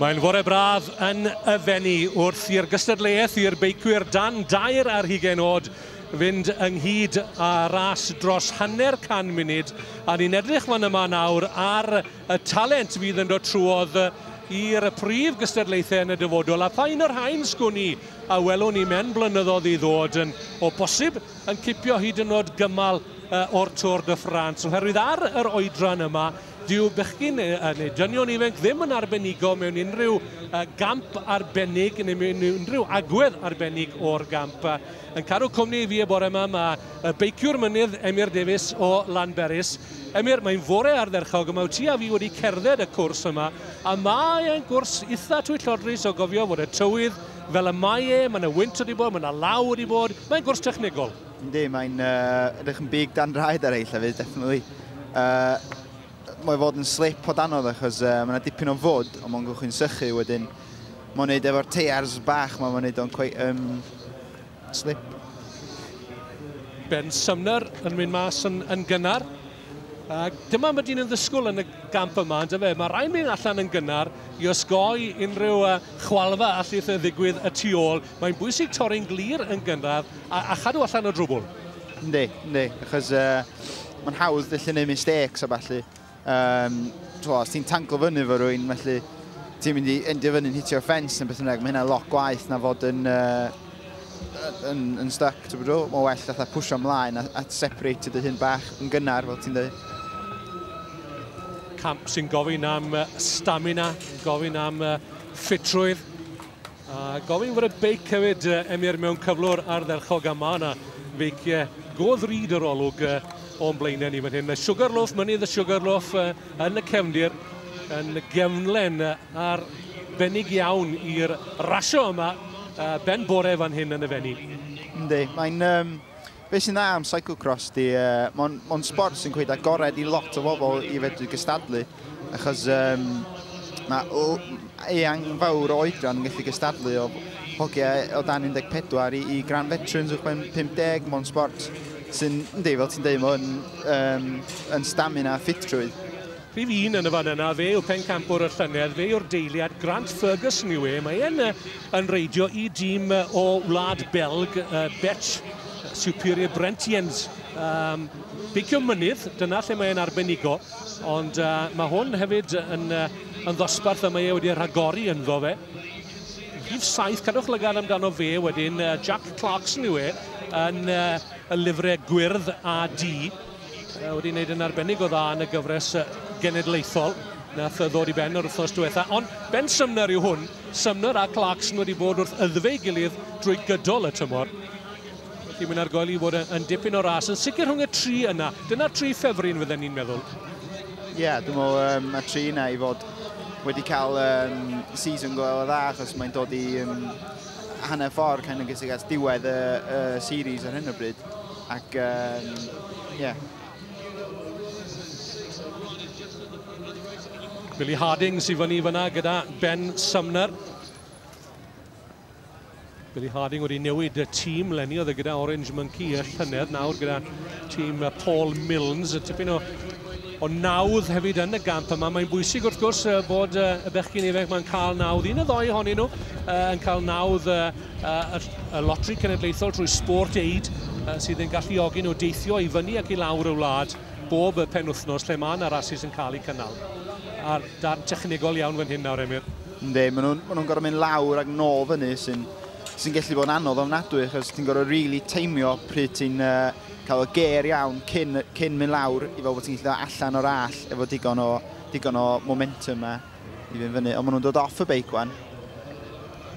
Mae'n fore braf yn y Fenni wrth i'r gystadleuaeth i'r beicwyr dan dair ar hugain oed fynd ynghyd â ras dros hanner can munud a ni'n edrych fan yma nawr ar y talent fydd yn dod trwodd i'r prif gystadlaethau yn y dyfodol a pha un o'r rhain sgwn i a welwn ni mewn blynyddoedd i ddod yn o bosib yn cipio hyd yn oed gymal o'r Tour de France, oherwydd ar yr oedran yma, dyw bechgyn neu dynion ifanc ddim yn arbenigo mewn unrhyw gamp arbennig neu mewn unrhyw agwedd arbennig o'r gamp. Yn cadw cwmni i fi y bore yma, mae y beiciwr mynydd Emyr Davies o Lanberis. Emyr, mae'n fore ardderchog yma, wyt ti a fi wedi cerdded y cwrs yma, a mae e'n gwrs eitha twyllodrus o gofio fod y tywydd fel y mae e, mae yna wynt wedi bod, mae yna law wedi bod, mae'n gwrs technegol. Yndi, mae'n uh, edrych yn big dan draed ar ei llefydd, definitely. Uh, mae fod yn slip o danodd achos uh, mae yna dipyn o fod, ond mae'n gwchyn sychu wedyn. Mae'n gwneud efo'r teiars bach, mae'n gwneud o'n quite, um, slip. Ben Sumner yn mynd mas yn, yn gynnar. A dyma mae dyn yn ddysgwyl yn y gamp yma, ond efe, mae rhaid mynd allan yn gynnar i osgoi unrhyw uh, chwalfa allith ddigwydd y tu ôl. Mae'n bwysig torri'n glir yn gynradd a, a chadw allan o drwbl. Yndi, yndi, achos uh, mae'n hawdd felly neud mistakes a falle. Um, twa, os ti'n tanglo fyny fo rwy'n, felly ti'n mynd i endio fyny'n hitio ffens neu beth yna, mae hynna lot gwaith na fod yn uh, yn, yn stuck, ti'n bydw? Mae'n well fatha pwysio ymlaen a, a separate dy hun bach yn gynnar, fel ti'n dweud. Camp sy'n gofyn am stamina, gofyn am ffitrwydd, a gofyn fod y beic hefyd emir mewn cyflwr ardderchog a mae yna feic go ddrud yr olwg o'n blaenau ni fan hyn. Sugarloaf, mynydd y Sugarloaf, yn y cefndir yn gefnlen arbennig iawn i'r rasio yma ben bore fan hyn yn y Fenni. Yndi, mae'n... Um, beth sy'n dda am cyclocross di, uh, mae'n mon sport sy'n cweud agored i lot o bobl i fedru gystadlu, achos um, mae eang fawr o oedran yn gallu gystadlu o hogiau o dan 14 i, i gran veterans uwchben 50, mae'n sport Sy'n, yndi, fel ti'n deud, mae hwn um, yn stamina a ffitrwydd. Rhif un yn y fan yna, fe yw pencampwr y llynedd, fe yw'r deiliad, Grant Ferguson yw e. Mae e'n yn reidio i dîm o wlad Belg, uh, Bet Superior Brentiens. Um, beicio mynydd, dyna lle mae'n arbenigo, ond uh, mae hwn hefyd yn, uh, yn ddosbarth y mae e wedi rhagori ynddo fe. Rhif saith, cadwch lygaid amdano fe wedyn, Jack Clarkson yw e, yn y lifre gwyrdd a di, wedi wneud yn arbennig o dda yn y gyfres genedlaethol nath ddod i ben yr wythnos diwetha. Ond Ben Sumner yw hwn. Sumner a Clarkson wedi bod wrth ydfe ei gilydd drwy gydol y tymor. Felly mae'n argoeli fod yn dipyn o ras, yn sicr rhwng y tri yna. Dyna tri ffefryn fydden ni'n meddwl. Ie, yeah, dwi'n meddwl um, mae tri yna i fod wedi cael um, season go dda, achos mae'n dod i um, hanner ffordd kind of gysig at diwedd y, y series ar hyn o bryd. Ac, um, yeah. Billy Harding sy'n fyny fyna gyda Ben Sumner. Billy Harding wedi newid y tîm lenni oedd e gyda Orange Monkey y llynedd nawr gyda tîm Paul Milnes y tipyn o o nawdd hefyd yn y gamp yma. Mae'n bwysig wrth gwrs uh, bod uh, y bechgyn ifanc mae'n cael nawdd. Un o ddoi honyn nhw uh, yn cael nawdd uh, uh, y lotri cenedlaethol trwy sport aid uh, sydd yn galluogi nhw deithio i fyny ac i lawr y wlad bob y penwthnos lle mae yna rasis yn cael eu cynnal. A'r darn technegol iawn fan hyn nawr, Emyr. Yndi, maen nhw'n ma nhw gorfod mynd lawr ac nôl fyny sy'n sy gallu bod yn anodd ofnadwy achos ti'n gorfod rili really teimio pryd ti'n uh, cael o ger iawn cyn, cyn mynd lawr i fel bod ti'n gallu allan o'r all efo digon o, digon o momentum a i fynd fyny. Ond maen nhw'n dod off y beic wan.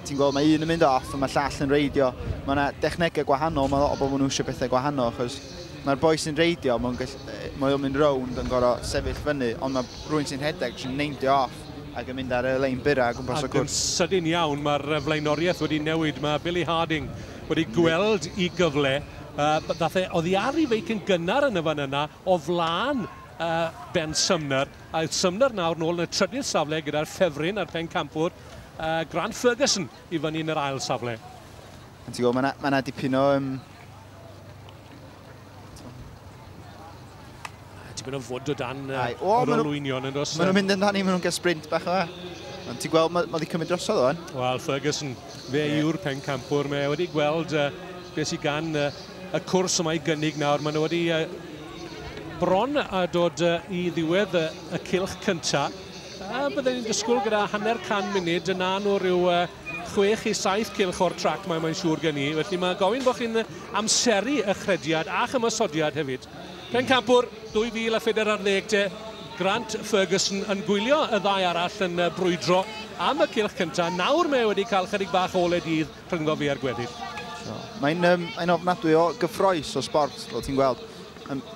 Ti'n gweld mae un yn mynd off a mae llall yn reidio. Mae yna dechnegau gwahanol, mae lot o bobl nhw eisiau bethau gwahanol achos mae'r boi sy'n reidio, mae'n mae o'n mynd rownd yn gorau sefyll fyny, ond mae rhywun sy'n rhedeg sy'n neindio off. Ac yn mynd ar y lein byrrau o gwmpas y cwrs. Ac yn sydyn iawn mae'r flaenoriaeth wedi newid. Mae Billy Harding wedi gweld i gyfle. Ddaeth e oddi ar ei feic yn gynnar yn y fan yna o flaen Ben Sumner. A yw Sumner nawr nôl yn y trydydd safle gyda'r ffefryn a'r pencampwr Grant Ferguson i fyny yn yr ail safle. Ti'n gwybod, mae yna dipyn o Tipyn o fod o dan uh, o'r olwynion yn dos. Maen nhw'n mynd yn dan i, maen nhw'n gael sprint bach yma. Ond ti'n gweld, mae ma wedi cymryd drosodd o'n? Wel, Ferguson, fe yeah. yw'r pen campwr. Mae wedi gweld uh, beth sy'n gan uh, y cwrs yma i gynnig nawr. Maen nhw wedi uh, bron a dod uh, i ddiwedd uh, y cilch cyntaf. A byddwn ni'n disgwyl gyda hanner can munud yna nhw rhyw uh, chwech i saith cylch o'r trac mae mae'n siŵr gen i, felly mae gofyn bod chi'n amseru y chrediad a'ch ymosodiad hefyd. Pencampwr 2004 ar ddeg te, Grant Ferguson yn gwylio y ddau arall yn brwydro am y cylch cyntaf. Nawr mae wedi cael chydig bach o ole dydd rhyngddo fe a'r gweddill. Mae'n um, ein ofnadwy o gyffroes o sport, fel ti'n gweld.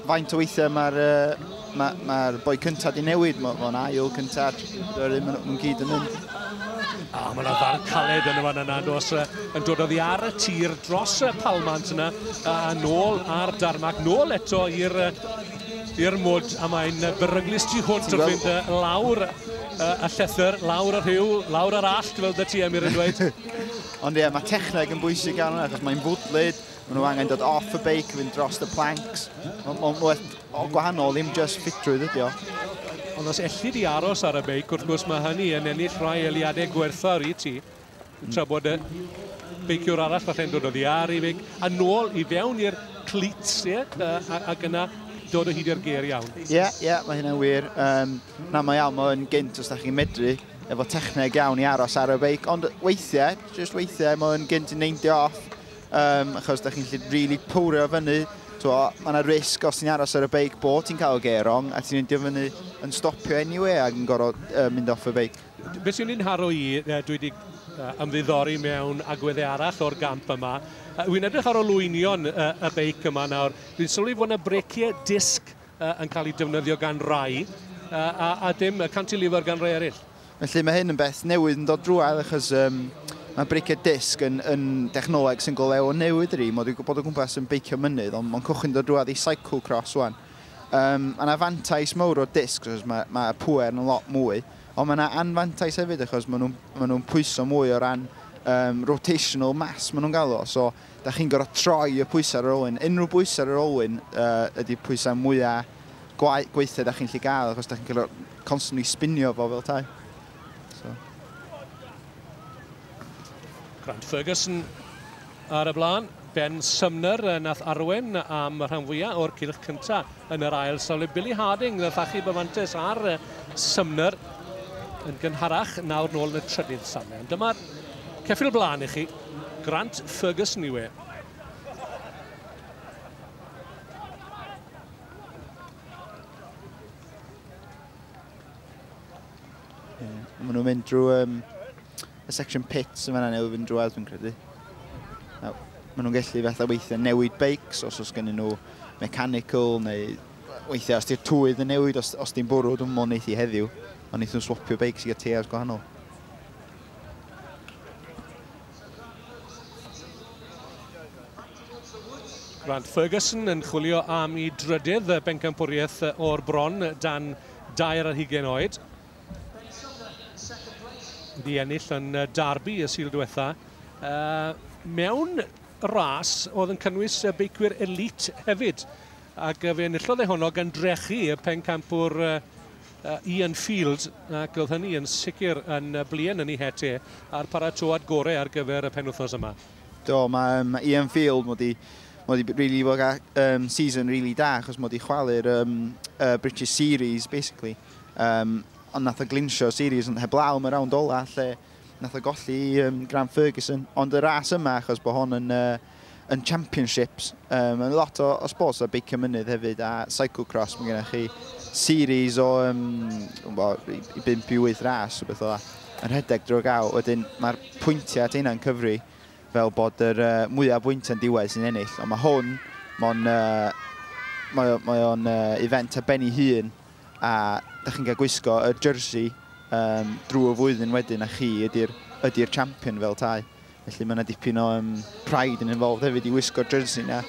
Faint o weithiau mae'r ma, ma boi cyntaf di newid, mae'n ma ail cyntaf, mae'n gyd yn mynd. A mae yna farn caled yn y fan yna, dos, yn dod oddi ar y tir dros y palmant yna, a nôl ar darmac, nôl eto i'r i'r mwd, a mae'n beryglus tu hwnt wrth fynd lawr y llethr, lawr y rhyw, lawr yr allt, fel dy ti, Emyr, yn dweud. Ond ie, mae techneg yn bwysig arno, achos mae'n fwdlyd, Maen nhw angen dod off y beic, fynd dros y planks. Mae'n werth o gwahanol, ddim just ffitrwydd ydi o. Ond os ellid i aros ar y beic, wrth gwrs mae hynny yn ennill rhai eliadau gwerthfawr i ti. Mm. Tra bod y beiciwr arall falle'n dod o ddiar i feic, a nôl i fewn i'r cleats, ie, ac yna dod o hyd i'r ger iawn. Ie, yeah, ie, yeah, mae hynna'n wir. Um, na, mae iawn, mae'n gynt os da chi'n medru efo techneg iawn i aros ar y beic, ond weithiau, just weithiau, mae'n gynt yn neindio off um, achos da chi'n gallu really pwrio fyny. Mae yna risg os ti'n aros ar y beic bod ti'n cael geir wrong a ti'n mynd i fyny yn stopio anyway ac yn gorfod uh, mynd off y beic. Be sy'n un haro i, uh, dwi wedi uh, ymddiddori mewn agweddau arall o'r gamp yma. Uh, Wy'n edrych ar olwynion uh, y beic yma nawr. Dwi'n sylwi fod yna breciau disg uh, yn cael eu defnyddio gan rai uh, a, a dim cantilever gan rai eraill. Felly mae hyn yn beth newydd yn dod drwad achos um, mae breiciau disg yn, yn dechnoleg sy'n go lew o newid yr un, dwi'n gwybod o gwmpas yn beicio mynydd, ond mae'n cwchyn dod drwad i cyclocross wan. Um, mae yna fantais mawr o disg, achos mae, mae pwer yn lot mwy, ond mae yna anfantais hefyd achos maen nhw'n ma nhw pwyso mwy o ran um, rotational mass maen nhw'n gael o. So, Dach chi'n gorfod troi y pwysau ar yr olwyn. Unrhyw bwysau ar yr olwyn uh, ydy pwysau mwyaf gwaith, gweithiau da chi'n lli gael, achos da chi'n cael constantly spinio fo fel tai. So. Grant Ferguson ar y blaen. Ben Sumner yn nath arwen am y rhan fwyaf o'r cilch cyntaf yn yr ail safle. Billy Harding yn llachu byfantes ar Sumner yn gynharach nawr nôl yn y trydydd safle. Ond dyma'r Ceffyl blaen i chi. Grant Ferguson yw e. Maen nhw'n mynd drwy um, y section pits yn fanna neu fynd drwy fi'n credu. Maen nhw'n gallu fatha weithiau newid beics os oes gen nhw mechanical neu weithiau os di'r twydd yn newid, os, os di'n bwrw, dwi'n mwyn eithi heddiw, ond eithaf swapio beics i gael tears gwahanol. Grant Ferguson yn chwilio am i drydydd bencampwriaeth o'r bron dan dair ar hugen oed. Wedi ennill yn Darby y sil diwetha. Uh, mewn ras oedd yn cynnwys beicwyr elite hefyd. Ac fe enillodd e honno gan drechu y pencampwr Ian Field ac oedd hynny yn sicr yn bluen yn ei het e a'r paratoad gorau ar gyfer y penwythnos yma. Do, mae um, Ian Field wedi mod i really wedi bod um, season really da achos mod i chwalu'r um, uh, British Series basically um, ond nath o glinsio series ond heblaw am y round ola lle nath o golli um, Grant Ferguson ond y ras yma achos bod hon yn uh, yn championships. Um, mae lot o, o sports o beicio mynydd hefyd a cyclocross. Mae gennych chi series o um, bo, i, i 5 i 8 ras o beth o dda yn rhedeg drwy gael. Wedyn mae'r pwyntiau at hynna'n cyfri fel bod yr uh, mwyaf bwyntiau'n diwedd sy'n ennill. Ond mae hwn, mae'n uh, mae, mae o'n uh, event a benni hun a da chi'n cael gwisgo y jersey um, drwy y flwyddyn wedyn a chi ydy'r ydy champion fel tai. Felly mae yna dipyn o um, pride yn involved hefyd i wisgo jersey na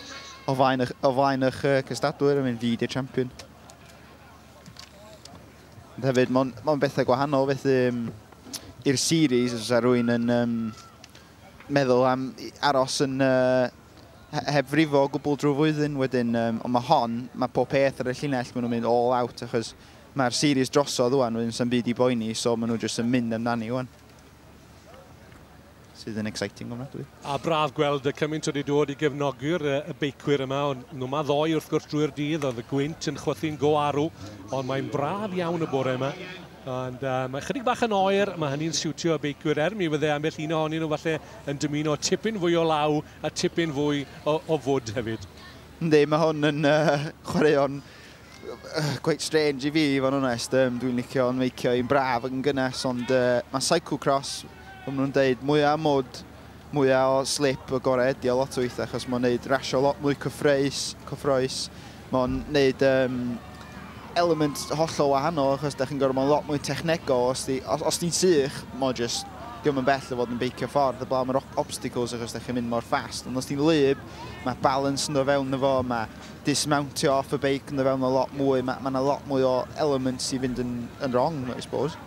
o flaen, o flaen eich uh, cystadwyr yn mynd fyd i'r champion. Ond hefyd, mae'n ma bethau gwahanol, felly um, i'r series, os yna rwy'n yn um, meddwl am aros yn uh, heb frifo o gwbl drwy flwyddyn wedyn, um, ond mae hon, mae pob peth ar y llinell, maen nhw'n mynd all out, achos mae'r series drosodd wan, wedyn sy'n byd i boeni, so maen nhw jyst yn mynd amdani wan. sydd yn exciting ofnadwy. A braf gweld y cymaint wedi dod i gefnogi'r y beicwyr yma, ond nhw ma ddoi wrth gwrs drwy'r dydd, oedd y gwynt yn chwythu'n go arw, ond mae'n braf iawn y bore yma. Ond uh, mae chydig bach yn oer, mae hynny'n siwtio y beicwyr er mi fydde ambell un ohonyn nhw falle yn dymuno tipyn fwy o law a tipyn fwy o, o fwd hefyd. Ynddi, mae hwn yn uh, chwaraeon Cweit strange i fi i fod yn onest, um, dwi'n licio yn feicio i'n braf ac yn gynnes ond uh, mae cyclocross, fel nhw'n dweud, mwyaf mwd, mwyaf o slip y gorau ydi o lot o weithiau achos mae'n gwneud rasio lot mwy cyffroes, cyffroes. mae'n gwneud um, element hollol wahanol achos da chi'n gorfod mae'n lot mwy technegol os, di, os, os ti'n sych mae'n just diolch yn bell o fod yn beicio ffordd y blaen mae'r obstacles achos da chi'n mynd mor fast ond os ti'n lyb mae balance yn dod fewn efo mae dismountio off y beic yn fewn o lot mwy, mae yna lot mwy o elements i fynd yn, yn wrong, I suppose.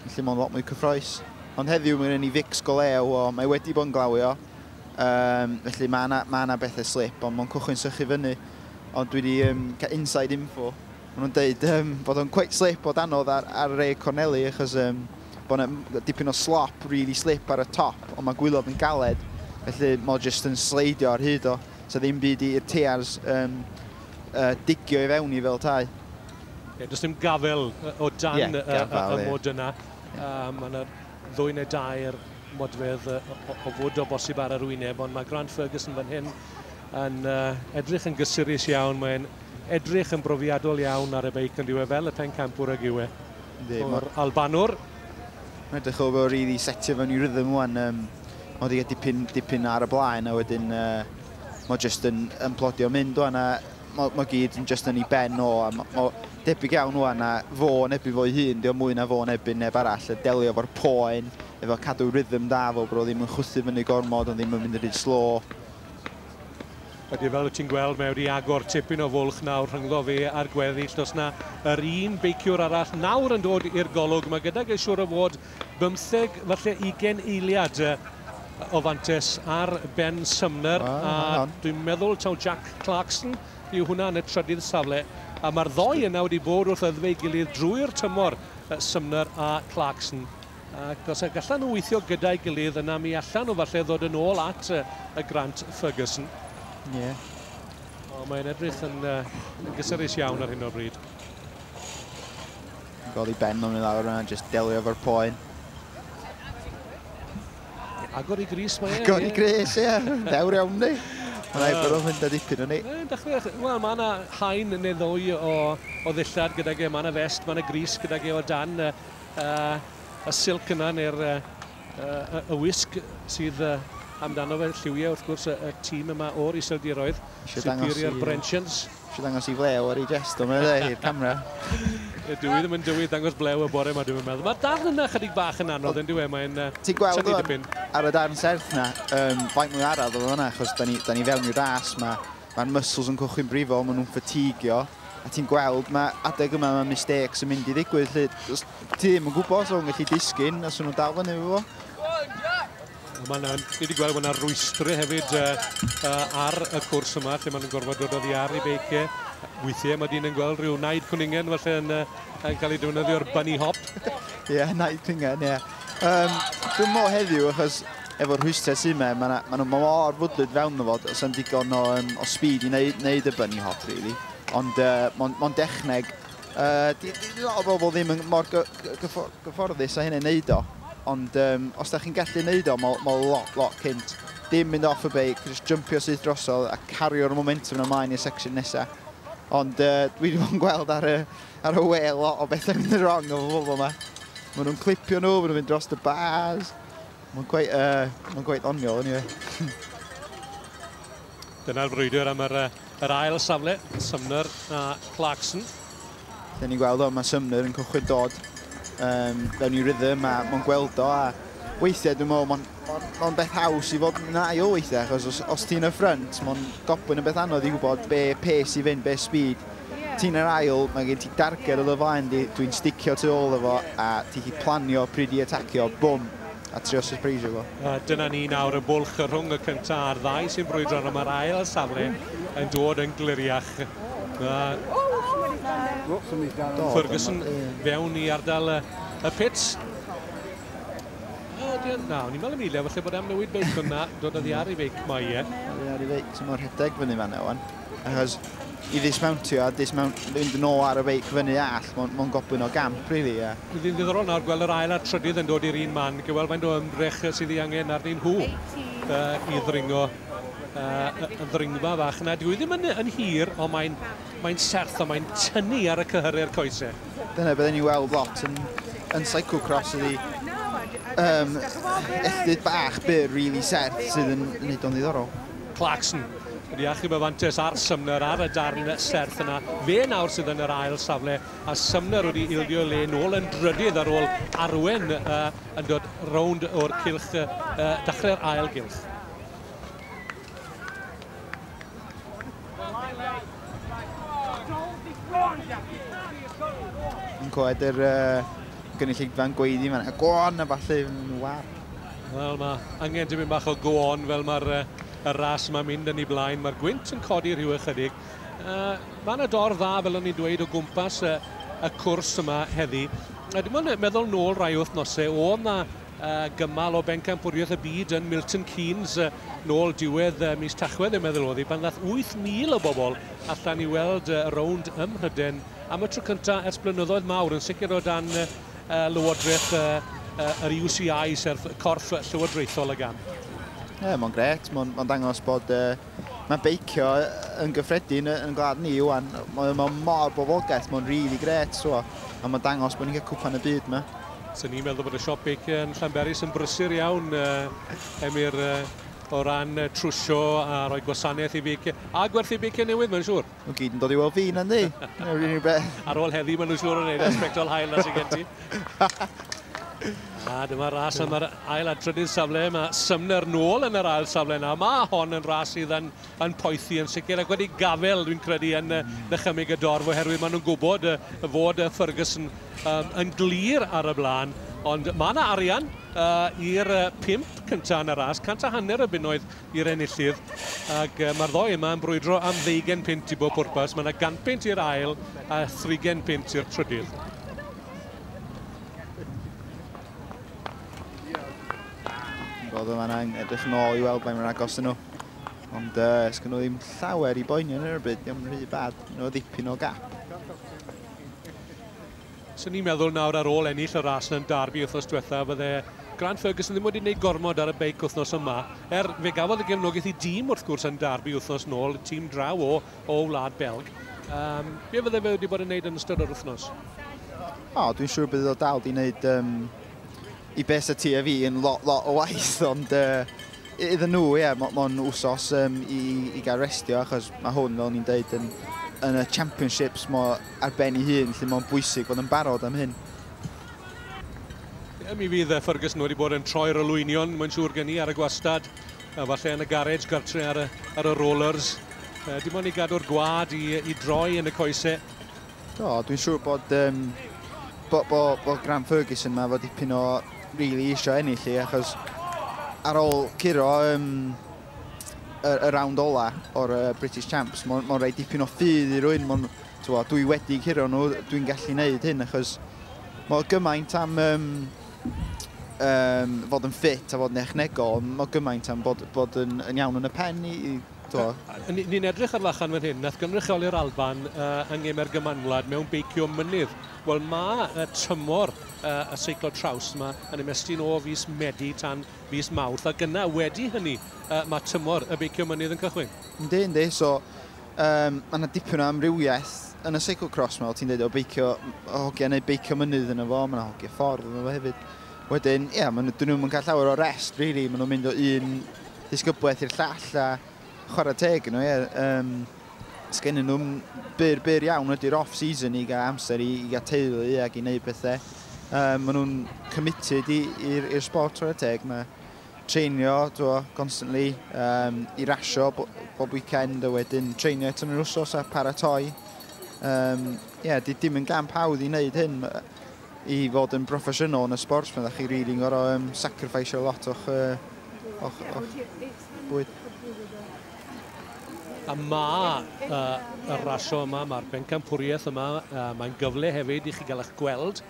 Felly mae'n lot mwy cyffroes. Ond heddiw mae gen ni fix go lew o, mae wedi bod yn glawio, um, felly mae yna, mae yna bethau slip, ond mae'n cychwyn sychu fyny. Ond dwi wedi um, cael inside info, maen nhw'n dweud um, bod o'n quite slip o danodd ar, ar Ray Corneli, achos um, bod yna dipyn o slop, really slip ar y top, ond mae gwylod yn galed, felly mae'n just yn sleidio ar hyd o. Sa ddim byd i'r tears um, uh, digio i fewn i fel tai. Ie, does dim gafel o dan yeah, gafel, y, y, y mod yna. Yeah. Um, mae yna ddwy neu dair modfedd o, o, o fod o bosib ar yr wyneb, ond mae Grant Ferguson fan hyn yn uh, edrych yn gysurus iawn. Mae'n edrych yn brofiadol iawn ar y beic yn diwe fel y pencampwr ag yw e. o'r Albanwr. Mae'n edrych o fel rili setio fewn i rhythm wan. Um, mae wedi cael dipyn, dipyn ar y blaen a wedyn uh, mae jyst yn, yn plodio mynd wan a mae, mae gyd yn jyst yn ei ben o a mae, mae debyg iawn wan a fo yn ebyn fo'i hun, diolch mwy na fo yn ebyn neb arall, y delio fo'r poen, efo cadw rhythm da fo, bod o ddim yn chwythu fyny gormod, ond ddim yn mynd yn rhy slo. Ydy, fel wyt ti'n gweld, mae wedi agor tipyn o fwlch nawr rhyngddo fe a'r gweddill. Does na yr un beiciwr arall nawr yn dod i'r golwg. Mae gydag ei siwr o fod bymtheg, falle ugen eiliad o fantes ar Ben Sumner. A dwi'n meddwl taw Jack Clarkson yw hwnna yn y trydydd safle. A mae'r ddoi yna wedi bod wrth yddefu ei gilydd drwy'r tymor, Sumner a Clarkson. Ac os y gallan nhw weithio gyda'i gilydd, yna mi allan nhw falle ddod yn ôl at y Grant Ferguson. Ie. Yeah. O, mae'n edrych yn, uh, yn gysurus iawn ar hyn o'r bryd. Godi ben o'n i lawr yna, jyst delio efo'r poen. Agor i gris mae e. Agor i gris, ie. Dewr iawn ni. Mae'n ei bod o'n mynd â dipyn o'n ni. Wel, mae yna hain neu ddwy o, o ddillad gyda ge. Mae yna fest, mae yna gris gyda ge o dan A, y silc yna, neu'r y, y, y wisg sydd y, amdano fe, lliwiau wrth gwrs y, y tîm yma o'r iseldiroedd, Superior Brensions. Eisiau dangos i flew ar ei jest o, mae'n i'r camera. Dwi ddim yn dywydd dangos blew y bore yma, dwi'n meddwl. Mae'r darn yna chydig bach yn anodd, yn diwy, mae'n uh, Ti'n gweld o'n ar y darn serth yna, um, faint mwy araf o fanna, achos da ni, da ni fewn i'r ras yma. Ma'r muscles yn cochi'n brifo, ma' nhw'n ffatigio, a ti'n gweld ma' adeg yma ma' mistakes yn mynd i ddigwydd 'lly. Os ti ddim yn gwybod os o'n gallu disgyn, os o'n nhw'n dal fyny efo fo. Ma' 'na, ni wedi gweld ma' 'na rwystri hefyd yy yy ar y cwrs yma lle ma' nhw'n gorfod dod oddi ar ei beic e. Weithie ma' dyn yn gweld rhyw naid cwningen falle yn yy yn cael ei defnyddio'r bunny hop. Ie naid cwningen ie. Yym dwi'm me'wl heddiw achos Efo'r rhwystrau sy' 'ma, ma' 'na, ma' nhw mor fwdlyd fewn iddo fo, does 'na'm digon o yym o speed i neu- neud y bunny hop rili. Ond yy mond mond dechneg. Yy di- di- di lot o bobl ddim yn mor gy- gy- gyffo- gyfforddus â hynny'n neud o. Ond yym os dach chi'n gallu neud o, ma' o ma' o lot lot cynt. Dim mynd off y beic, jyst jympio syth drosodd a cario'r momentum 'na mlaen i'r section nesa. Ond yy dwi 'di bod yn gweld ar y ar y we lot o bethau'n mynd yn wrong efo bobl 'ma. Ma' nhw'n clipio nhw, ma' nhw'n mynd dros y bars. Mae'n gweith, uh, mae'n gweith oniol, anyway. Dyna'r frwydr am yr, yr ail safle, Sumner a Clarkson. Dyna ni'n gweld o, mae Sumner yn cychwyn dod um, fewn i rhythm a mae'n gweld o a weithiau dwi'n meddwl mae'n ma beth haws i fod yn ail weithiau achos os, os ti'n y ffrynt mae'n gobyn yn beth anodd i wybod be pace i fynd, be speed Ti'n yr ail, mae gen ti darged o dy flaen di, dwi'n sticio tu ôl efo a ti chi planio pryd i atacio, bwm, a trio sypreisio fo. A dyna ni nawr, y bwlch rhwng y cynta a'r ddau sy'n brwydro arno, mae'r ail safle yn dod yn gliriach. Ferguson fewn i ardal y pits. Na, o'n i'n meddwl Emilio, falle bod am newid beic, ond na, dod oddi ar ei feic mae e. Oddi ar ei feic, so mae'n rhedeg fyny fan na wan. Achos i ddismountio a dismount, fynd yn ôl ar y feic fyny all, mae'n ma gobwyn o gamp, really, ie. Yeah. Fydd yn ddiddorol nawr gweld yr ail a'r trydydd yn dod i'r un man, gewel faint o ymdrech sydd ei angen arnyn nhw uh, i ddringo uh, y ddringfa fach yna. Dwi ddim yn, yn hir, ond mae'n mae serth a mae'n tynnu ar y cyhyrau'r coesau. Dyna byddwn ni'n weld lot yn, yn cyclocross ydi um, echdyd bach byr, really serth, sydd yn, yn neud o'n ddiddorol. Clarkson wedi achub y fantes ar Sumner ar y darn serth yna. Fe nawr sydd yn yr ail safle a Sumner wedi ildio le nôl yn drydydd ar ôl arwen uh, yn dod rownd o'r cilch, uh, dachrau'r ail gilch. Yn coed yr uh, gynulleidfa'n gweiddi fan. Go on, a falle yn war. Wel, mae angen tipyn bach o go on fel mae'r y ras yma'n mynd yn ei blaen. Mae'r gwynt yn codi rhyw ychydig. Uh, mae yna dorf dda, fel o'n i'n dweud, o gwmpas y, y cwrs yma heddi. A dim ond meddwl nôl rai wythnosau, o yna uh, gymal o bencampwriaeth y byd yn Milton Keynes uh, nôl diwedd uh, mis Tachwedd, yn meddwl oedd hi, pan ddath 8,000 o bobl allan i weld uh, y rownd ym Mhryden am y tro cyntaf ers blynyddoedd mawr, yn sicr o dan uh, Llywodraeth yr UCI, sef corff llywodraethol y gamp. Ie, mae'n gret. Mae'n ma dangos bod... Mae beicio yn gyffredin yn gwlad ni, Iwan. Mae ma mor bofogaeth, mae'n rili really gret, so. A mae'n dangos bod ni'n cael cwpan y byd yma. So ni'n meddwl bod y siop beicio yn Llanberis yn brysur iawn, uh, Emyr, uh, o ran trwsio a rhoi gwasanaeth i beicio, a gwerthu beicio newydd, mae'n siŵr. Nhw gyd yn dod i weld fi, na ni? Neu rhywun beth. Ar ôl heddi, maen nhw'n siŵr yn ei wneud sbectol hael na sy'n gen ti. A dyma ras am yr ail a trydydd safle. Mae Sumner nôl yn yr ail safle nawr. Mae hon yn ras sydd yn, yn poethi yn sicr ac wedi gafel, dwi'n credu, yn mm. dychymyg y dorf oherwydd maen nhw'n gwybod y, y fod y Ferguson um, yn glir ar y blaen. Ond mae yna arian uh, i'r uh, pimp cyntaf yn y ras. Cant a hanner y bunnoedd i'r enillydd ac uh, mae'r ddoi yma yn brwydro am ddeugen pint i bob pwrpas. Mae yna ganpint i'r ail a thrigen pint i'r trydydd. Bod yma na'n edrych yn ôl i weld mae'n agos yn nhw. Ond uh, ysgyn nhw ddim llawer i boenio yn yr bryd, ddim rhy bad, nhw ddipyn o gap. 'Swn ni'n meddwl nawr ar ôl ennill y ras yn Derby wythnos diwetha fydde Grant Ferguson ddim wedi gwneud gormod ar y beic wythnos yma, er fe gafodd y gefnogaeth i dîm wrth gwrs yn Derby wythnos nôl, tîm draw o o Wlad Belg. Yym, be fydde fe wedi bod yn wneud yn ystod yr wythnos? O, dwi'n siŵr bydd o dal di wneud um, I be sa ti a fi yn lot lot o waith ond yy iddyn nhw ie mo- mond wsos yym i i gael restio achos ma' hwn fel o'n i'n deud yn yn y championships mo ar ben ei hun felly mo'n bwysig fod yn barod am hyn. Ie mi fydd yy Ferguson wedi bod yn troi'r olwynion mae'n siŵr gen i ar y gwastad a falle yn y garej gartre ar y ar y rollers yy dim ond i gadw'r gwâd i i droi yn y coese Do, dwi'n siŵr bod, um, bo, bo, bo Graham Ferguson yma fod dipyn o really isio ennill i, achos ar ôl curo um, y, y rawnd ola o'r uh, British Champs, mae'n ma rhaid dipyn o ffydd i rwy'n, ma twa, dwi wedi curo nhw, dwi'n gallu gwneud hyn, achos mae gymaint am um, um, fod yn ffit a fod yn echnegol, mae gymaint am bod, bod yn, yn iawn yn y pen i, i Do. Ni'n edrych ar Lachan fan hyn, nath gynrychioli'r Alban uh, yng ngeme'r gymanwlad mewn beicio mynydd. Wel, mae uh, tymor uh, y seiclo traws yma yn ymestyn o fus Medi tan fus Mawrth, a gyna wedi hynny uh, mae tymor y beicio mynydd yn cychwyn. Yndi, yndi. So, um, mae yna dipyn o amrywiaeth yn y seiclo cross yma, ti'n dweud o beicio hogia neu beicio mynydd yn efo, mae yna hogia ffordd yn efo hefyd. Wedyn, ia, maen nhw, dyn nhw'm yn cael llawer o rest, really. Maen nhw'n mynd o un ddisgyblaeth i'r llall, a chwarae teg nhw, ie. Um, Sgen nhw'n byr, byr iawn ydy'r off-season i gael amser i, i gael teulu ac i wneud pethau. Um, maen nhw'n committed i'r sport chwarae teg. Mae treinio, dwi constantly, um, i rasio bo, bob weekend, a wedyn treinio eto yn yr wsos a paratoi. Um, yeah, di, dim yn gamp hawdd i wneud hyn. i fod yn broffesiynol yn y sbort, pan ydych chi rili yn gorau um, sacrifice lot o'ch, uh, o'ch, o'ch bwyd. A mae uh, y rasio yma, mae'r bencampwriaeth yma, uh, mae'n gyfle hefyd i chi gael eich gweld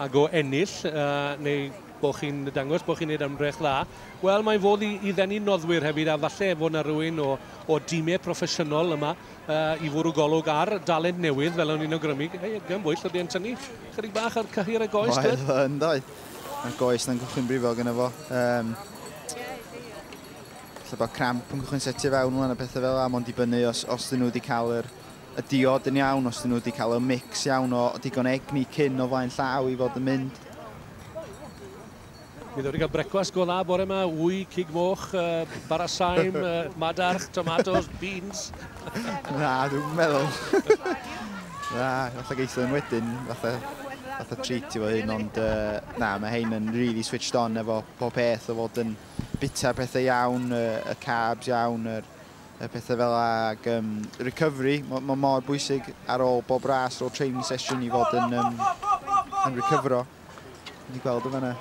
ag o ennill, uh, neu bod chi'n dangos bod chi'n gwneud ymdrech dda. Wel, mae'n fodd i, i ddenu noddwyr hefyd, a falle fod yna rhywun o, o dîmau proffesiynol yma uh, i fwrw golwg ar dalent newydd fel o'n i'n awgrymu gan bwyll oedd e'n tynnu chydig bach ar cyhyr y goes oedd o yn doi a goes na'n gychwyn brifo gyda fo um, lle bod cramp yn gychwyn setio fewn nhw a pethau fel yna mae'n dibynnu os, os dyn nhw wedi cael yr y diod yn iawn, os dyn nhw wedi cael y mix iawn o digon egni cyn o flaen llaw i fod yn mynd. Mi ddod i gael brecwast go dda bore yma, wy, cig moch, uh, bara saim, uh, madarch, tomatoes, beans. Na, dwi'n meddwl. na, fatha geitho yn wedyn, fatha, fatha treat i fo hyn, ond uh, na, mae hein yn really switched on efo pob peth o fod yn bita pethau iawn, uh, y carbs iawn, yr, y pethau fel ag um, recovery, mae ma mor bwysig ar ôl bob ras, ar ôl training session i fod yn, um, yn recovero. Dwi wedi gweld o fanna.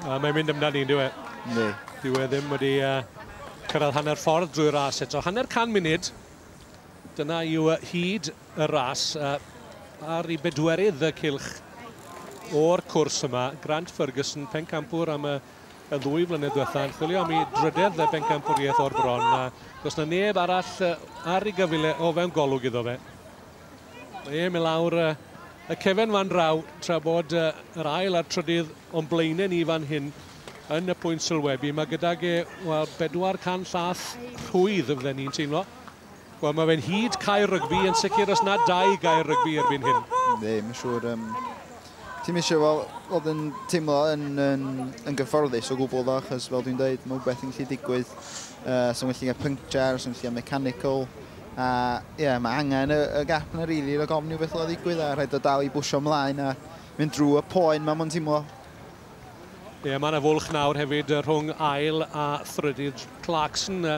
A mae'n mynd amdani, yn diwe. Ne. Dwi e ddim wedi uh, cyrraedd hanner ffordd drwy ras eto. Hanner can munud. Dyna yw uh, hyd y ras. Uh, ar i bedwerydd y cilch o'r cwrs yma. Grant Ferguson, pencampwr am y y ddwy flynedd diwetha yn chwilio am i drydedd y bencampwriaeth o'r bron a does na neb arall ar ei gyfile o fewn golwg iddo fe. Mae e'n mynd lawr y, y cefen fan draw tra bod uh, yr ail a'r trydydd o'n blaenau ni fan hyn yn y pwynt sylwebu. Mae gydag e, wel, 400 llath rhwydd, fydden ni'n teimlo. Wel, mae fe'n hyd cael rygbi, yn sicr os na dau gael rygbi erbyn hyn. Ie, mae'n siŵr. Um, Ti'n eisiau fel, fod yn teimlo yn, yn, yn gyfforddus o gwbl ddo, achos fel dwi'n dweud, mae rhywbeth yn gallu digwydd. Uh, so mae'n gallu cael puncture, so mae'n gallu cael mechanical, A ie, mae angen y, y gap na rili, really, rhag ofn beth oedd ddigwydd a rhaid o dal i bwysio ymlaen a mynd drwy y poen mae mwyn teimlo. Ie, mae yna fwlch nawr hefyd rhwng ail a thrydydd Clarkson uh,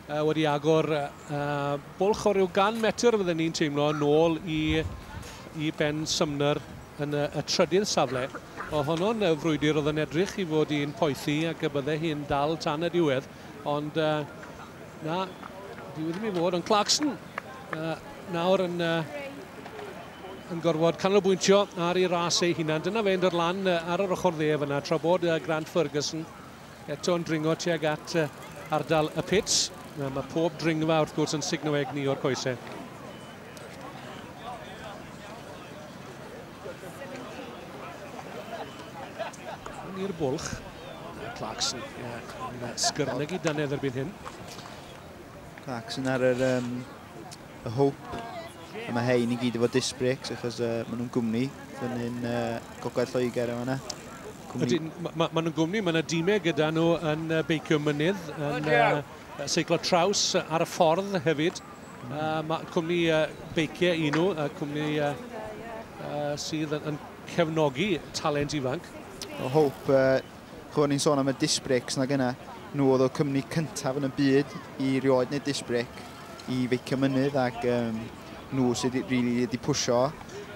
uh, wedi agor uh, bwlch o ryw gan metr fydden ni'n teimlo yn ôl i, i Ben Sumner yn y, y trydydd safle. O honno'n frwydr oedd yn edrych i fod i'n poethi ac y bydde hi'n dal tan y diwedd. Ond uh, na, dyw ddim i fod, ond Clarkson uh, nawr yn, uh, yn gorfod canolbwyntio ar ei ras ei hunan. Dyna fe'n dod lan uh, ar yr ochr dde fyna, tra bod uh, Grant Ferguson eto'n dringo tuag at uh, ardal y pits. Uh, mae pob dringfa wrth gwrs yn signo egni o'r coesau. Yn i'r bwlch. Clarkson yn sgyrnygu dannedd erbyn hyn. Clarkson ar yr um, y Hope. A mae hein i gyd efo disc brakes achos uh, maen nhw'n gwmni fyny'n uh, gogledd Lloegr yma yna. Cwmni... Maen ma, ma nhw'n gwmni, mae yna dîmau gyda nhw yn uh, beicio mynydd, yn uh, seiclo traws ar y ffordd hefyd. Uh, mae cwmni uh, beiciau un nhw, uh, cwmni uh, uh, sydd yn, yn cefnogi talent ifanc. O Hope, uh, chwbwn ni'n sôn am y disc brakes na gyna. Nhw oedd o cwmni cyntaf yn y byd i rioed neu disc brake i feicio mynydd ac um, nhw sydd wedi really pwysio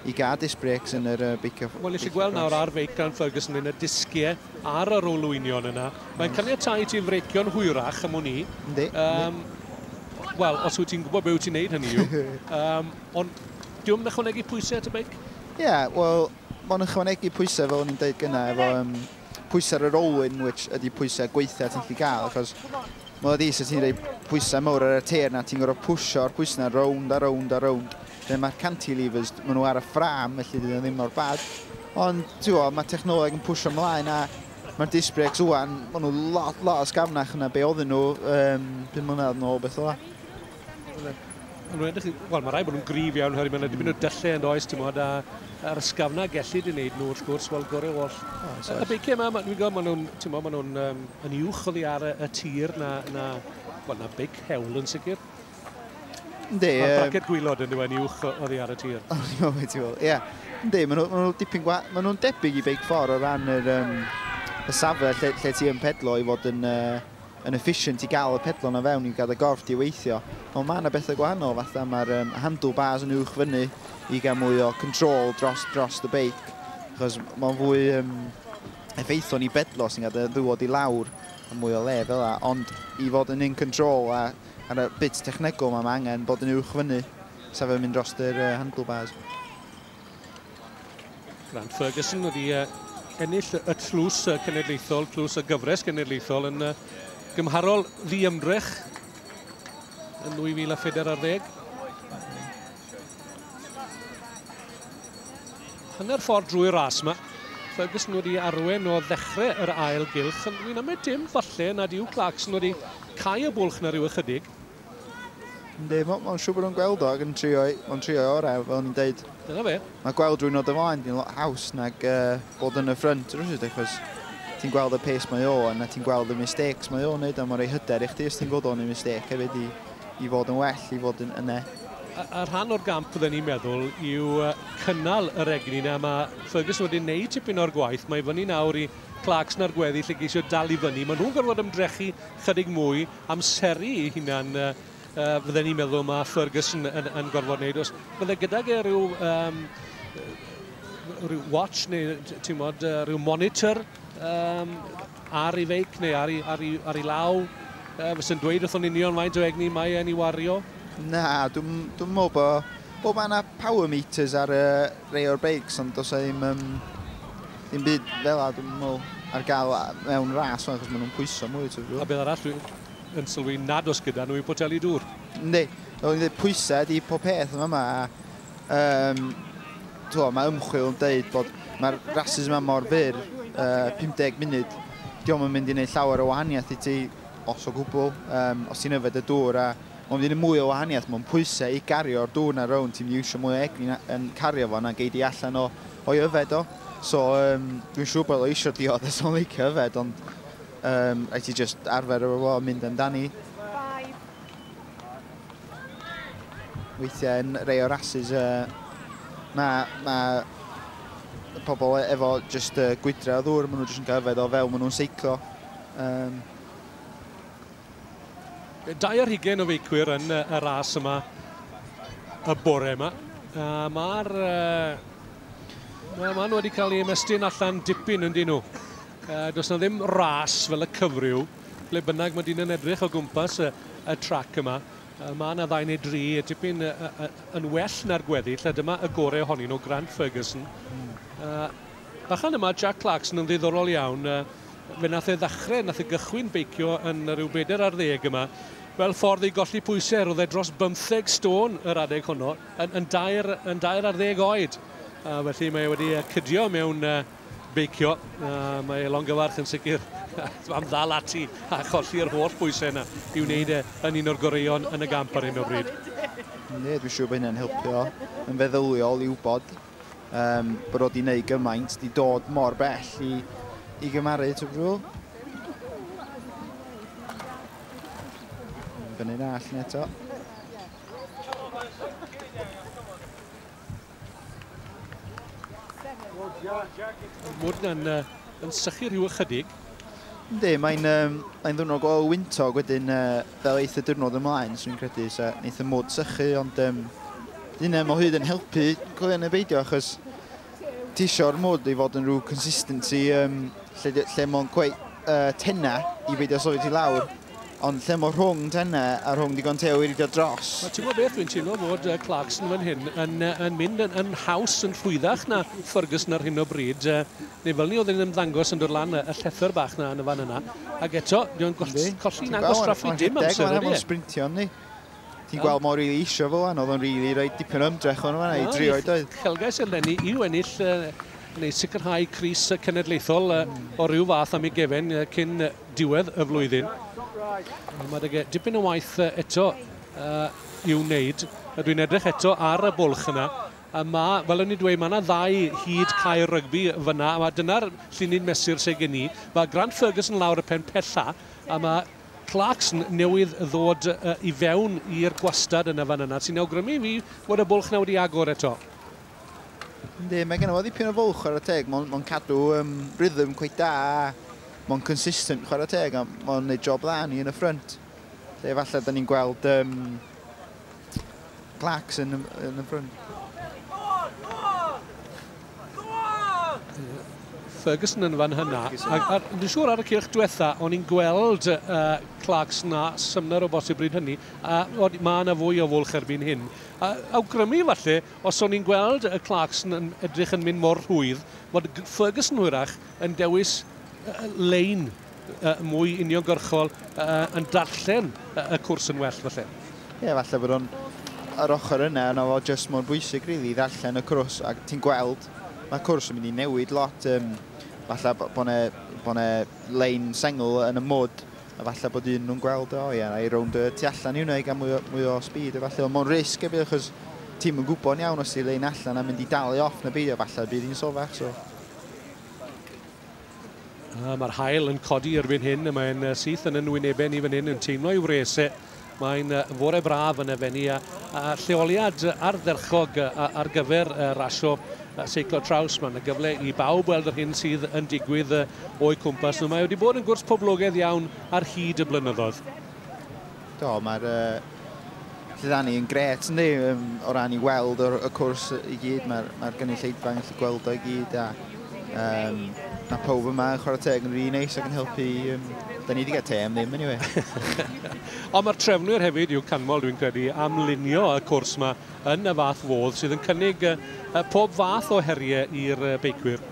i gael disc brakes yn yr uh, beicio. Wel, nes i gweld nawr ar feic gan Ferguson yn y disgiau ar yr olwynion yna. Mae'n caniatau i ti frecio'n hwyrach am wn i. Yndi. Um, Wel, os wyt ti'n gwybod beth wyt ti'n neud hynny yw. um, ond diwm yn ychwanegu pwysau at y beic? Ie, yeah, wel, mae'n ychwanegu pwysau fel o'n i'n deud gyna, efo um, pwysau ar yr olwyn, which ydy pwysau gweithiau ti'n gallu gael, achos mae'n dda di sy'n ti'n rhoi pwysau mawr ar y teir na, ti'n gorfod pwysio ar pwysau na, rownd a rownd a rownd. Mae'r cantilevers, maen nhw ar y ffram, felly dyn nhw ddim mor bad. Ond, ti'bo, mae technoleg yn pwysio ymlaen a mae'r disc brakes wwan, maen nhw lot, lot o sgafnach yna be oedden nhw um, 5 mlynedd yn ôl, beth o la. Wel, mae rai bod nhw'n grif iawn, hynny, mae'n edrych yn o dyllu yn does, ti'n modd, a'r ysgafna gellu di wneud nhw, wrth gwrs, wel, gore o all. Oh, y beiciau yma, dwi'n gwybod, maen nhw'n, ti'n modd, maen nhw'n um, yn uwch o ddi ar y, y tir na, na, wel, na beic hewl yn sicr. Ynddi. Mae'r braced gwylod yn ddiwen uwch oddi ar y tir. O, ni o beth i fod. Ie. Ynddi, maen nhw'n nhw dipyn gwa... Maen nhw'n debyg i beic ffordd o ran yr, um, y safle lle, lle ti yn pedlo i fod yn, uh, yn efficient i gael y pedlo na fewn i gael y gorff di weithio. Ond mae yna bethau gwahanol, fatha mae'r um, handlebars yn uwch fyny i gael mwy o control dros, dros y beic. Chos mae'n fwy um, effeithlon ni bedlo sy'n cael dy ddywod i lawr a mwy o le fel yna. Ond i fod yn in control a Ar y bit technegol 'ma, mae angen bod yn uwch fyny, sef yn mynd dros yr handlebars. Grant Ferguson wedi ennill y tlws cenedlaethol, tlws y gyfres cenedlaethol yn gymharol ddiymdrech yn 2014. Hanner ffordd drwy'r ras yma. Ferguson wedi arwen o ddechrau yr ail gylch, ond ni'n ymwneud dim falle nad yw Clarkson wedi cau y bwlch na rhyw ychydig. Ynddi, mae'n siŵr bod nhw'n gweld o ac yn trio'i, mae'n trio'i orau, fel ni'n deud. Dyna fe. Mae gweld rwy'n nod ymlaen di'n lot haws nag uh, bod yn y ffrynt rwy'n achos ti'n gweld y pace mae o, a na ti'n gweld y mistakes mae o'n neud, a mae'n rhoi hyder i chdi os ti'n gweld o'n ei mistake hefyd i I fod yn well, i fod yn yne. A, a rhan o'r gamp fydden ni'n meddwl yw cynnal yr egni yna. Mae Ferguson wedi wneud tipyn o'r gwaith. Mae fyny nawr i Clarkson ar gweddi lle geisio dal i fyny. Mae nhw'n gorfod ymdrechu chydig mwy, amseru i hunan uh, uh, fydden ni'n meddwl mae Ferguson yn, yn gorfod wneud. Os bydde gydag e rhyw, um, rhyw watch neu ti'n modd, uh, rhyw monitor, um, ar ei feic neu ar ei, ar ei, ar ei law, uh, fysa'n dweud wrthon union faint o egni mae e'n ei wario? Na, dwi'n dwi meddwl bod bob anna power meters ar y rei o'r beics, ond dos ddim, um, ddim byd fel a dwi'n meddwl ar gael mewn ras fan, achos maen nhw'n pwyso mwy. Tyfu. A beth arall dwi'n yn sylwi nad os gyda nhw i poteli dŵr? Ynddi, dwi'n dweud pwysau di pob peth yma yma, a Um, Twa, mae ymchwil yn dweud bod mae'r rhasys yma mor fyr, uh, 50 munud, diolch yn mynd i wneud llawer o wahaniaeth i ti, os o gwbl, um, os ti'n yfed y dŵr, a mae'n mynd i mwy o wahaniaeth, mae'n pwysau i gario'r dŵr na rown, ti'n mynd i eisiau mwy o egni yn cario fo na geid i allan o, o'i yfed o. So, um, dwi'n siŵr bod o eisiau diod a so'n licio yfed, ond um, rhaid ti just arfer efo fo mynd amdani. Weithiau yn rei o'r asus y mae, mae y pobl e, efo jyst uh, gwydra o ddŵr, maen nhw jyst yn cael yfed o fewn, maen nhw'n seiclo. Um... Dau ar hugen o feicwyr yn y ras yma y bore yma. Uh, Mae'r... Uh, Mae ma nhw wedi cael ei ymestyn allan dipyn yn dyn nhw. Uh, does na ddim ras fel y cyfryw. Ble bynnag mae dyn yn edrych o gwmpas y, y trac yma, mae yna ddau neu dri tipyn yn well na'r gweddill, a dyma y gorau ohonyn nhw, Grant Ferguson. Mm. Uh, bachan yma, Jack Clarkson yn ddiddorol iawn. Uh, fe nath e ddechrau, nath e gychwyn beicio yn rhyw bedair ar ddeg yma. Fel ffordd i golli pwysau, roedd e dros bymtheg stôn yr adeg honno, yn, yn, dair, yn dair ar ddeg oed. Uh, felly mae wedi cydio mewn uh, beicio. Uh, mae Longyfarch yn sicr am ddal ati a cholli'r holl bwysau yna i wneud e yn un o'r goreuon yn y gamp ar hyn o bryd. Ne, dwi'n siŵr bod hynny'n helpio yn feddyliol i wybod um, bod o di wneud gymaint, di dod mor bell i, i gymaru, ti'n brwyl? Fyny'n all ni eto. Mwyd yna'n uh, yn sychu rhyw ychydig. Yndi, mae'n um, mae ddwrnod o wyntog wedyn uh, fel eith y diwrnod ymlaen, swn i'n credu, so neith y mwyd sychu, ond um, dyna mo hyd yn helpu Glen y Beidio, achos ti eisiau'r mwyd i fod yn rhyw consistency um, lle, lle mae'n gweud uh, tenna i beidio sofyd i lawr. Ond lle mor rhwng Tenne a rhwng digon teo i ridio dros? Wel, ti'n gwybod beth, dwi'n teimlo fod uh, Clarkson fan hyn yn, uh, yn mynd yn, yn haws, yn rhwyddach na Ferguson ar hyn o bryd. Uh, neu fel ni oedd yn ymddangos yn dod lan y, y llethr bach na yn y fan yna. Ac eto, dwi'n colli na'n gwastraffu dim amser. Mae'n rhaid bod yn sprintio, ni. Ti'n gweld mor rili isio fo wan, oedd o'n rili rhaid dipyn o ymdrech o'n fanna i drio i doedd? Celgais eleni i'w ennill neu sicrhau Cris Cenedlaethol o ryw fath am ei gefen cyn diwedd y flwyddyn. Mae deg dipyn o waith eto i'w wneud. Dwi'n edrych eto ar y bwlch yna. A mae, fel o'n i'n dweud, mae yna ddau hyd cair rygbi fyna, a dyna'r llun ni'n mesur sy'n gen i. Mae Grant Ferguson lawr y pen pella, a mae Clarks newydd ddod i fewn i'r gwastad yn y fan yna, sy'n awgrymu i fi fod y bwlch 'na wedi agor eto. Yndi, mae gen o ddipyn o fwlch chwarae teg, mae'n ma cadw um, rhythm cweith da, mae'n consistent chwarae teg, a mae'n gwneud job dda ni yn y ffrynt. Lle falle da ni'n gweld um, Clark's in the, in the front. Ferguson yn fan hynna. Dwi'n siŵr ar y cylch diwetha, o'n i'n gweld uh, Clarks na symner o bosib bryd hynny. A mae yna fwy o fwlch erbyn hyn. A, awgrymu falle, os o'n i'n gweld y Clarks yn edrych yn mynd mor rhwydd, bod Ferguson hwyrach yn dewis uh, lein mwy uniongyrchol yn darllen y cwrs yn well falle. Ie, falle bod o'n yr ochr yna yna fo jyst mor bwysig rili i ddarllen y cwrs ac ti'n gweld mae cwrs yn mynd i newid lot um, falle bod yna bo lein sengl yn y mwd a falle bod un nhw'n gweld o ie, i rownd y tu allan i hwnna i gael mwy o, mwy o speed a falle ond mae'n risg efo achos ti'n yn gwybod iawn os ti'n lein allan a mynd i dalu off na beidio falle bydd hi'n sofach so Mae'r haul yn codi erbyn hyn, mae'n syth yn yn wynebau ni fan hyn yn teimlo i'w wres e. Mae'n fore braf yn y fenni a, a lleoliad ardderchog ar gyfer rasio seiclo traws. Mae'n gyfle i bawb weld yr hyn sydd yn digwydd o'i cwmpas nhw. Mae wedi bod yn gwrs poblogaidd iawn ar hyd y blynyddoedd. Do, mae'r uh, Dydan ni yn gret yndi um, o ran i weld o'r, y cwrs i gyd, mae'r mae gynulleidfa yn gallu gweld o'i gyd a um, mae pawb yma yn chwarae teg yn rhi really neis ac yn helpu um, Da ni wedi cael te am ddim, anyway. Ond mae'r trefnwyr hefyd yw canmol, dwi'n credu, am lunio y cwrs yma yn y fath fodd sydd yn cynnig uh, pob fath o heriau i'r uh, beicwyr.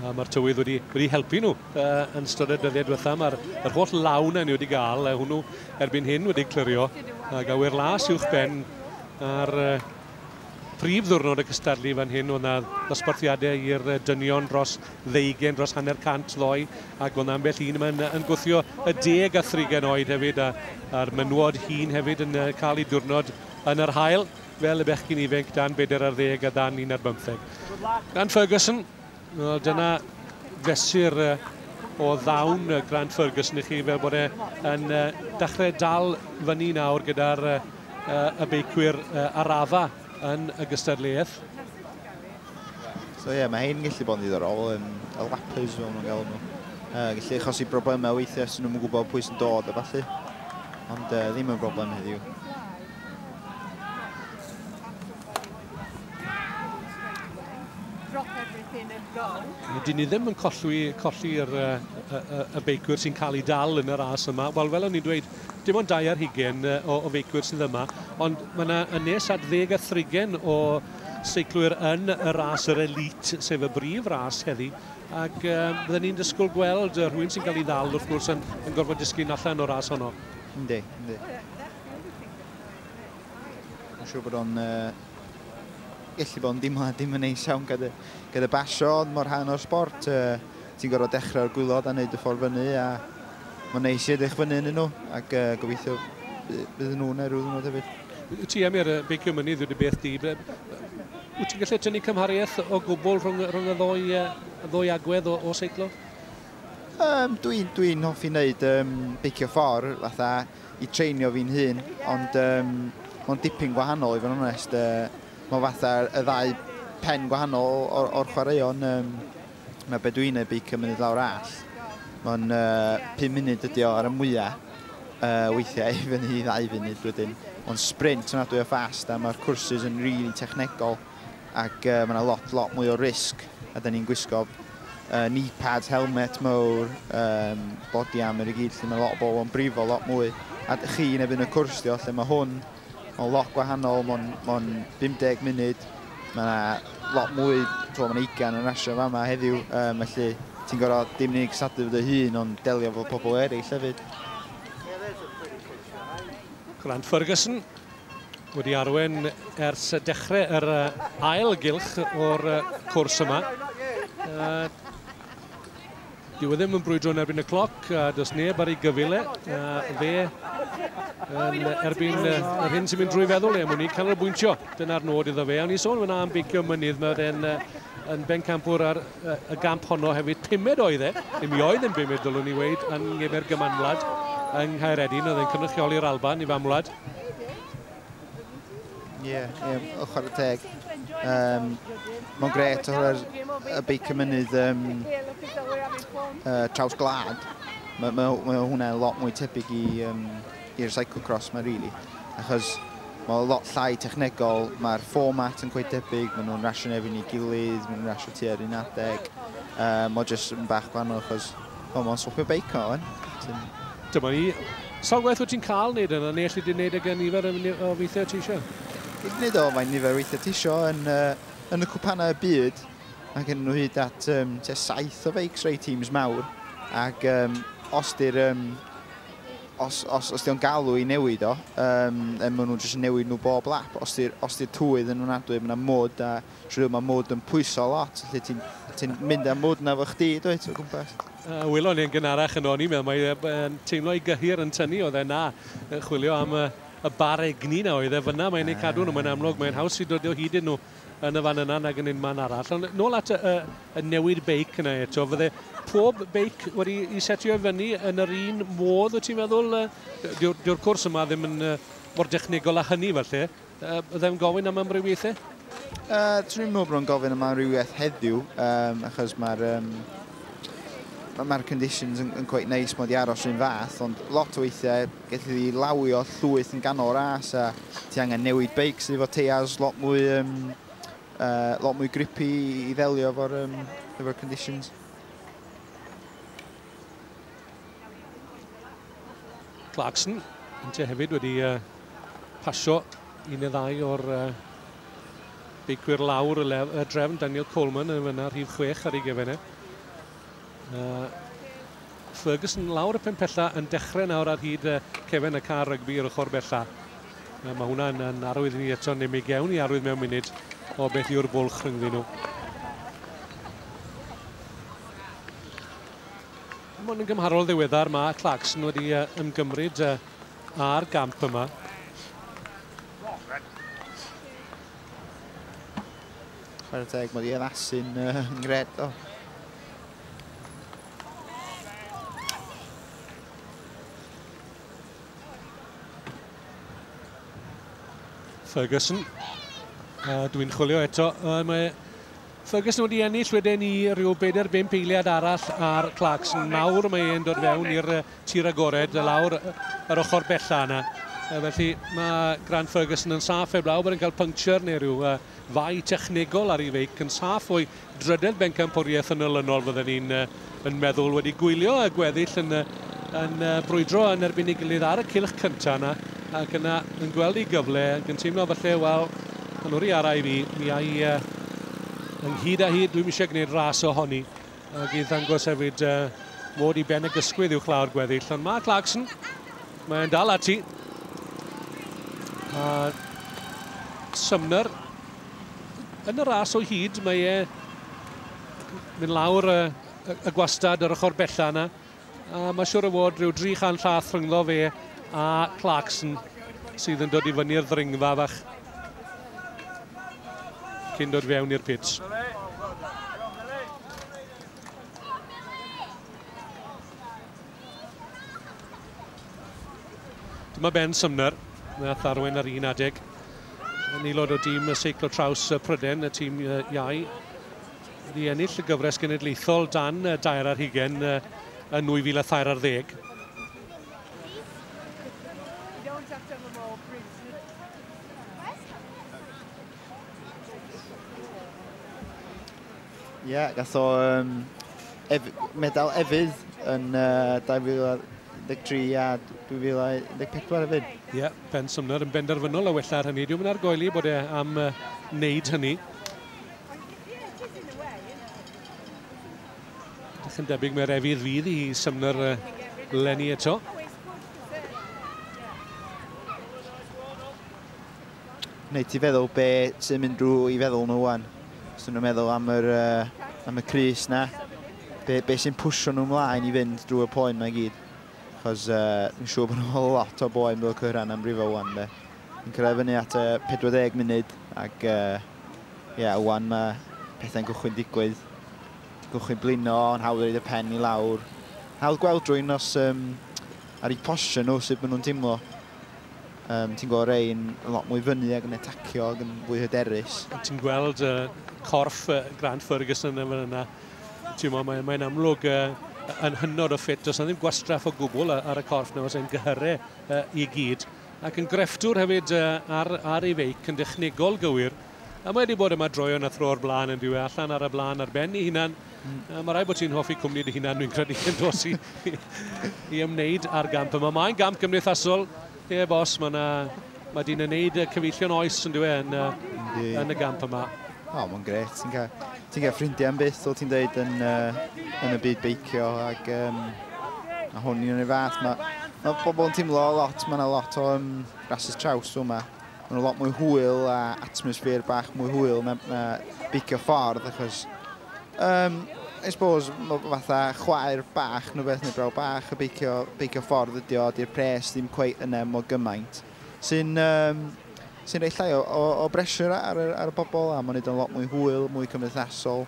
A mae'r tywydd wedi, wedi helpu nhw uh, yn ystod y dyddiau diwetha. Mae'r yr holl lawn ni wedi gael, uh, hwnnw erbyn hyn wedi clirio. A gawer las uwch ben ar uh, prif ddwrnod y cystadlu fan hyn o'na ddosbarthiadau i'r dynion dros ddeugen, dros hanner cant ddoi ac o'na ambell un yma'n yn gwthio y deg a thrigen oed hefyd a'r menwod hun hefyd yn cael ei diwrnod yn yr hael. fel y bechgyn ifainc dan bedair ar ddeg a dan un ar bymtheg. Grant Ferguson, wel, dyna fesur o ddawn Grant Ferguson i chi fel bod e yn dechrau dal fyny nawr gyda'r y beicwyr arafa yn y gystadleuaeth. So ie, yeah, mae hyn gallu bod yn ddiddorol, um, y lappers fel nhw'n gael nhw. Uh, gallu achosi broblemau weithiau sy'n nhw'n gwybod pwy sy'n dod a falle, ond uh, ddim yn broblem heddiw. Dyn ni ddim yn colli, colli yr, y, y, y beicwyr sy'n cael ei dal yn y ras yma. Wel, fel o'n i'n dweud, dim ond dau ar hugen o, o feicwyr sydd yma, ond mae yna yn nes at ddeg a thrigen o seiclwyr yn y ras yr elit, sef y brif ras heddi. Ac um, byddwn ni'n dysgwyl gweld rhywun sy'n cael ei ddal, wrth gwrs, yn, yn gorfod disgyn allan o'r ras honno. Yndi, yndi. Mae'n siŵr bod o'n uh, gallu bod yn dimlad dim yn neis iawn gyda, gyda basio, ond mor rhan o'r sport. Uh, ti'n gorfod dechrau'r gwylod a wneud y ffordd fyny, a mae'n neis i edrych fyny yn nhw, ac uh, gobeithio bydd nhw'n neu rhyw ddwrnod hefyd. Wyt ti am i'r beicio mynydd wedi beth di? Wyt ti'n gallu tynnu cymhariaeth o gwbl rhwng, rhwng y ddwy, uh, ddwy agwedd o, o seiclo? Um, Dwi'n dwi hoffi wneud um, beicio ffordd, fatha i treinio fi'n hun, ond um, mae'n dipyn gwahanol i fod yn onest. Uh, mae fatha y ddau pen gwahanol o'r, or chwaraeon. Um, mae be dwi'n ei beic yn mynd lawr all. Mae'n uh, 5 munud ydi o ar y mwyaf. Uh, weithiau i fyny i ddau funud wedyn. Mae'n sprint yna dwi'n o ffast a mae'r cwrsys yn rili really technegol. ac uh, mae yna lot, lot mwy o risg, a da ni'n gwisgo uh, knee pads, helmet mawr, um, body armor i gyd, lle mae lot o bobl yn brifo lot mwy. A chi yn ebyn y cwrs di o, lle mae hwn, mae'n lot gwahanol, mae'n ma 50 munud, mae yna lot mwy, mae yna ugain yn rasio fa yma heddiw, um, felly ti'n gorfod dim unig sadlu fod y hun, ond delio fod pobl eraill hefyd. Grant Ferguson wedi arwen ers dechrau yr ail gylch o'r cwrs yma. Dwi wedi ddim yn brwydro yn erbyn y cloc, a does neb ar ei gyfile, a fe yn erbyn yr hyn sy'n mynd drwy feddwl e, mwyn i canolbwyntio. Dyna'r nod iddo fe. Awn ni sôn fyna am beicio mynydd, mae fe'n yn bencampwr ar y gamp honno hefyd. Pumed oedd e, ddim i oedd yn bumed, ddylwn i weid, yn ngefer gymanwlad yng Nghaeredin, oedd e'n cynrychioli'r Alban i famwlad. Ie, yeah, yeah, o chwarae teg. Um, Mae'n gret o hwyr y beic y mynydd um, uh, traws glad. Mae ma, ma hwnna lot mwy tebyg i'r um, cyclocross mae rili. Really. Achos mae lot llai technegol, mae'r fformat yn gweud debyg, maen nhw'n rasio nefyn i gilydd, maen nhw'n rasio tu ar un adeg. Um, mae jyst yn bach gwahanol achos O, mae'n swpio beic o, yn. Ti'n... Dyma ni. Sa'n gwaith wyt ti'n cael wneud yna, neu allu di wneud ag y nifer o weithiau ti eisiau? Gyd wneud o, mae'n nifer o weithiau ti eisiau yn, uh, yn y cwpanau y byd. Mae gen nhw hyd at um, te saith o feics rei teams mawr. Ac um, os di'r... Um, os, os, os di'n galw i newid o, um, maen nhw'n jyst newid nhw bob lap. Os di'r di twydd yn wnadwy, mae'n mod a True, mae mood yn pwyso lot, lle ti'n ti mynd â mood na fo chdi, dweud, o gwmpas. Uh, Wylo ni'n gynharach yn o'n i'n meddwl, mae'n teimlo i gyhyr yn tynnu, oedd e na, chwilio am y, y bar egni na oedd e fyna, mae'n ei cadw nhw, mae'n amlwg, mae'n haws i dod o hyd yn nhw yn y fan yna nag yn un man arall. Ond nôl at y, y, y newid beic yna eto, fydde pob beic wedi i setio i fyny yn yr un modd, wyt ti'n meddwl? Dyw'r cwrs yma ddim yn uh, mor dechnegol a hynny falle. Yy, ddim gofyn am amrywiaethau? Uh, Dwi'n meddwl bod o'n gofyn am amrywiaeth heddiw, um, achos mae'r um, mae'r conditions yn, yn quite nice mod i aros rhywun fath, ond lot o weithiau gallu fi lawio llwyth yn ganol ras a ti angen newid beics efo teiars lot mwy, um, uh, lot mwy grippy i ddelio efo'r um, efo conditions. Clarkson, Inter hefyd wedi uh, pasio un neu ddau o'r uh, beicwyr lawr y, lef, y drefn, Daniel Coleman yn fyna rhif 6 ar ei gefenau. E. Uh, Ferguson lawr y penpella yn dechrau nawr ar hyd uh, cefen y car rygbi ar ochr bella. Uh, mae hwnna'n yn arwydd ni eto, neu mi gewn ni arwydd mewn munud o beth yw'r bwlch rhyngddyn nhw. Dim ond yn gymharol ddiweddar mae Clarkson wedi ymgymryd â'r gamp yma. Chwer y teg, mae wedi addasu'n uh, ngred o. Ferguson. Uh, Dwi'n chwilio eto. Uh, mae Ferguson wedi ennill wedyn i rhyw bedair bump eiliad arall ar Clarkson. Nawr mae e'n dod fewn i'r tir agored lawr yr ochr bella yna. Felly mae Grant Ferguson yn saff heblaw bod e'n cael puncture neu rhyw uh, fai technegol ar ei feic yn saff o'i drydedd bencampwriaeth yn olynol fydden ni'n uh, yn meddwl, wedi gwylio y gweddill yn, yn brwydro yn erbyn ei gilydd ar y cylch cyntaf yna, ac yna yn gweld ei gyfle, ac yn teimlo falle, wel, pan o'r i ara i fi, mi ai uh, ynghyd â hi, dwi'n eisiau gwneud ras o honi, ac i ddangos hefyd uh, mod i ben y gysgwydd i'w chlaw'r gweddill. Ond mae Clarkson, mae'n dal ati, a Sumner yn y ras o hyd, mae e mynd lawr y, y, y gwastad yr ochr bella yna. A mae siwr o fod rhyw 300 llath rhyngddo fe a Clarkson sydd yn dod i fyny'r ddringfa fach cyn dod fewn i'r pits. Dyma Ben Sumner, nath arwain ar un adeg. Yn aelod o dîm y seiclo traws Pryden, y tîm iau. Wedi ennill y gyfres genedlaethol dan dair ar hugen yn 2003 ar ddeg. Ie, yeah, gath o um, ef, medal efydd yn uh, 2013 a 2014 efydd. Ie, yeah, Ben Sumner yn benderfynol o wella ar hynny. Dwi'n mynd ar goeli bod e am uh, wneud hynny. Dych yn debyg mae'r efydd fydd i Sumner uh, lenni eto. Wneud ti feddwl be sy'n mynd drwy i feddwl nhw wan. Os nhw'n meddwl am yr, uh, am y crys na, be, be sy'n pwysio nhw mlaen i fynd drwy y poen mae gyd. Chos uh, fi'n siŵr bod nhw'n lot o boen bod y cyhran am rifo wan de. Yn cyrraedd fyny at uh, 40 munud ac uh, yeah, wan mae pethau'n gwchwyn digwydd. Gwchwyn blino, yn hawdd reid y pen i lawr. Hawdd gweld drwy'n nos um, ar eu posio nhw sut maen nhw'n teimlo. Um, ti'n gweld rhain yn lot mwy fyny ac yn etacio ac yn fwy hyderus. Ti'n gweld uh, corff uh, Grant Ferguson yn yna. Ti'n meddwl, mae'n mae amlwg uh, yn hynod o ffit. Does ddim gwastraff o gwbl ar y corff nawr sy'n gyhyrru uh, i gyd. Ac yn grefftwr hefyd uh, ar, ar ei feic yn dechnegol gywir. A mae wedi bod yma droion a thro'r blaen yn diwy allan ar y blaen ar ben ei hunan. Mae rhaid bod ti'n hoffi cwmni dy hunan, dwi'n credu, yn dos i, i ymwneud â'r gamp yma. Mae'n gamp gymdeithasol, ie yeah, bos, mae yna Mae dyn yn neud cyfeillion oes yn dweud yn, uh, yn y gamp yma. O, oh, mae'n gret. Ti'n cael, ti cael ffrindiau yn byth, ti'n dweud, yn, uh, yn y byd beicio. Ac um, a hwn i'n ei fath. Mae ma pobl yn teimlo lot, mae yna lot o um, rhasys traws yma. Mae nhw lot mwy hwyl a atmosffer bach mwy hwyl na, na beicio ffordd achos um, I suppose fatha chwaer bach neu beth neu braw bach y beicio, beicio ffordd ydi o, di'r pres ddim cweit yna mor gymaint sy'n um, sy'n rhoi llai o, o, o bresur ar, ar, ar y bobl a mae'n neud o'n lot mwy hwyl, mwy cymdeithasol.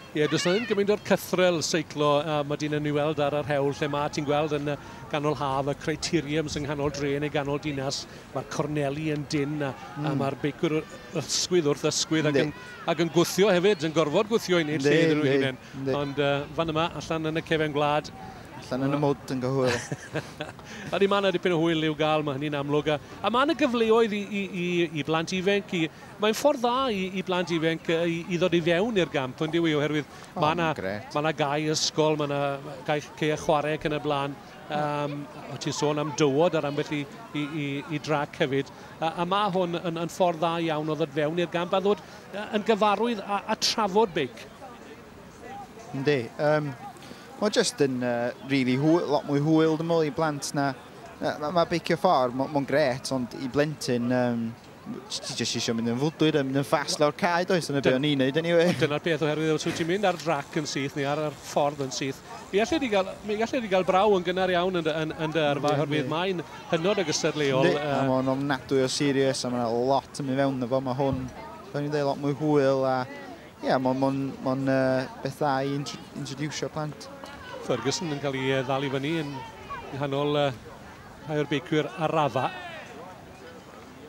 Ie, does na ddim gymaint o'r cythrel seiclo a mae di'n enw i weld ar yr hewl lle mae ti'n gweld yn y ganol haf y criteriums yng nghanol dre neu ganol dinas, mae'r corneli yn dyn a, mm. a hmm. mae'r beicwr ysgwydd wrth ysgwydd ac yn, ac yn gwthio hefyd, yn gorfod gwthio i wneud lle iddyn nhw hunain. Ond uh, fan yma, allan yn y cefen gwlad, Allan yn y mwd yn gyhwyl. a ni mae yna dipyn o hwyl i'w gael, mae hynny'n amlwg. A, a mae yna gyfleoedd i, i, i, i blant ifenc, i, Mae'n ffordd dda i, i blant ifanc i, i ddod i fewn i'r gamp, ond diwy, oherwydd oh, mae yna ma na gau ysgol, mae yna gau lle a chwarae ac yn y blaen. Um, o ti'n sôn am dywod ar ambell i, i, i, i drac hefyd. A, a mae hwn yn, yn ffordd dda iawn o ddod fewn i'r gamp a ddod yn gyfarwydd a, a trafod beic. Yndi. Um, mae jyst yn uh, really hwyl, lot mwy hwyl dymol i blant na... Mae ma beicio ffordd, mae'n ma gret, ond i blentyn, um, Ti jyst eisiau mynd yn fwdwyr a mynd yn ffast lawr cae, does? Dyna beth o'n i'n neud anyway. Dyna'r peth oherwydd os wyt ti'n mynd ar drac yn syth neu ar yr ffordd yn syth, mi allet ti gael, mi allet ti gael braw yn gynnar iawn yn dy, yn, yn dy yrfa oherwydd mae'n hynod o gystadleuol. Yndi, a mae'n ofnadwy o serious a mae'n lot yn mynd fewn y fo. Mae hwn, fel ni'n dweud, lot mwy hwyl a ie, yeah, mae'n mon, mon, uh, beth dda i introducio plant. Ferguson yn cael ei ddal i fyny yn nghanol uh, rhai o'r beicwyr arafau.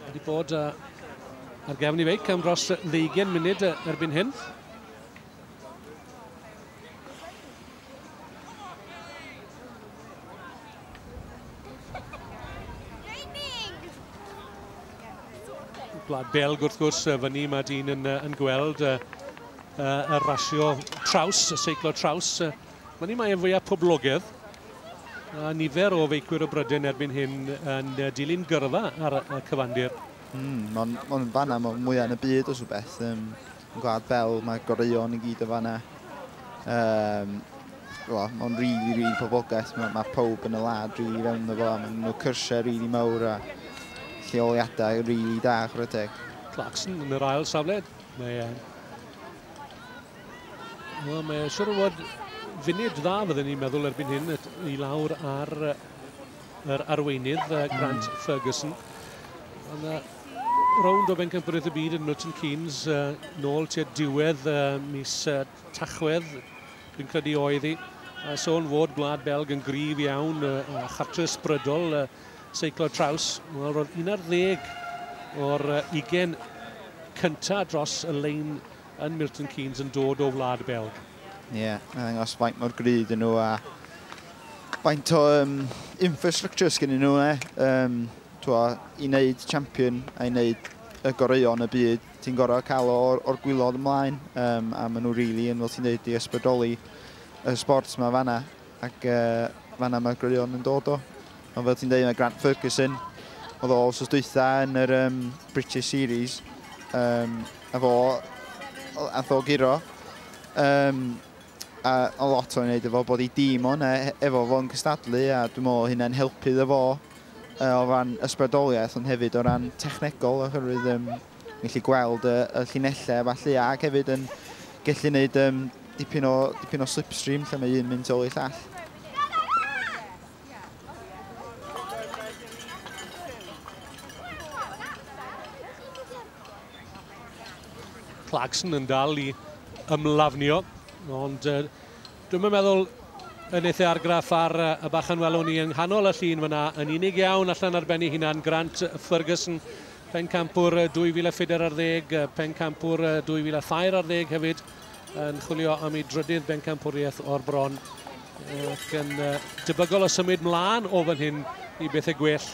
wedi bod uh, ar gefn i feic am dros 20 munud erbyn hyn. Gwlad Belg wrth gwrs, fyny mae dyn yn, yn gweld y rasio traws, y seiclo traws Fan hyn mae fwyaf poblogedd a nifer o feicwyr o Bryden erbyn hyn yn dilyn gyrfa ar y cyfandir. Mm, mae'n ma fanna mae mwyaf yn y byd os o beth. Um, yn Gwlad Bel mae goreuon i gyd o fanna. Um, well, mae'n rili, really, rili really poblogaeth. Mae, mae pob yn y lad rili really fewn o fo. Mae'n nhw cyrsiau rili really mawr a lleoliadau rili really da, chwarae teg. Clarkson yn yr ail safle. Mae Wel, mae siwr o fod funud dda fydden ni'n meddwl erbyn hyn i lawr ar yr arweinydd Grant mm. Ferguson. Ond uh, rownd o bencampwriaeth y byd yn Milton Keynes uh, nôl tua diwedd uh, mis uh, Tachwedd, dwi'n credu oedd hi. Uh, sôn fod Gwlad Belg yn grif iawn uh, a chartre ysbrydol uh, seiclo traws. Wel, roedd un ar ddeg o'r uh, ugen cyntaf dros y lein yn Milton Keynes yn dod o Wlad Belg. Ie, yeah, mae'n ddangos faint mor gry dyn nhw a faint o um, infrastructure sgyn nhw, e. Um, twa, I wneud champion a i wneud y goreuon y byd, ti'n gorau cael o'r, or gwylod ymlaen, um, a maen nhw rili really yn, fel ti'n dweud, i ysbrydoli y sport yma fanna. Ac uh, fanna mae'r gwirion yn dod o. Ond fel ti'n dweud, mae Grant Ferguson, oedd o os dwytha yn yr um, British Series, um, a fo, a fo giro. Um, a, a lot o'n wneud efo bod i dîm o'n e, efo fo'n cystadlu a dwi'n meddwl hynna'n helpu ddo fo uh, o ran ysbrydoliaeth ond hefyd o ran technegol oherwydd um, Ni'n gallu gweld y, y llinellau falle, ac hefyd yn gallu gwneud um, dipyn, o, dipyn o slipstream lle mae un mynd ôl i llall. Clarkson yn dal i ymlafnio, ond uh, dwi'n meddwl yn eitha argraff ar uh, y bachan welwn ni yng nghanol y llun fyna yn unig iawn allan ar ben ei hunan Grant Ferguson Pencampwr 2000 Ffider ar ddeg, Pencampwr 2000 Thair ar ddeg hefyd yn chwilio am ei drydydd bencampwriaeth o'r bron ac yn debygol o symud mlaen o fan hyn i bethau gwell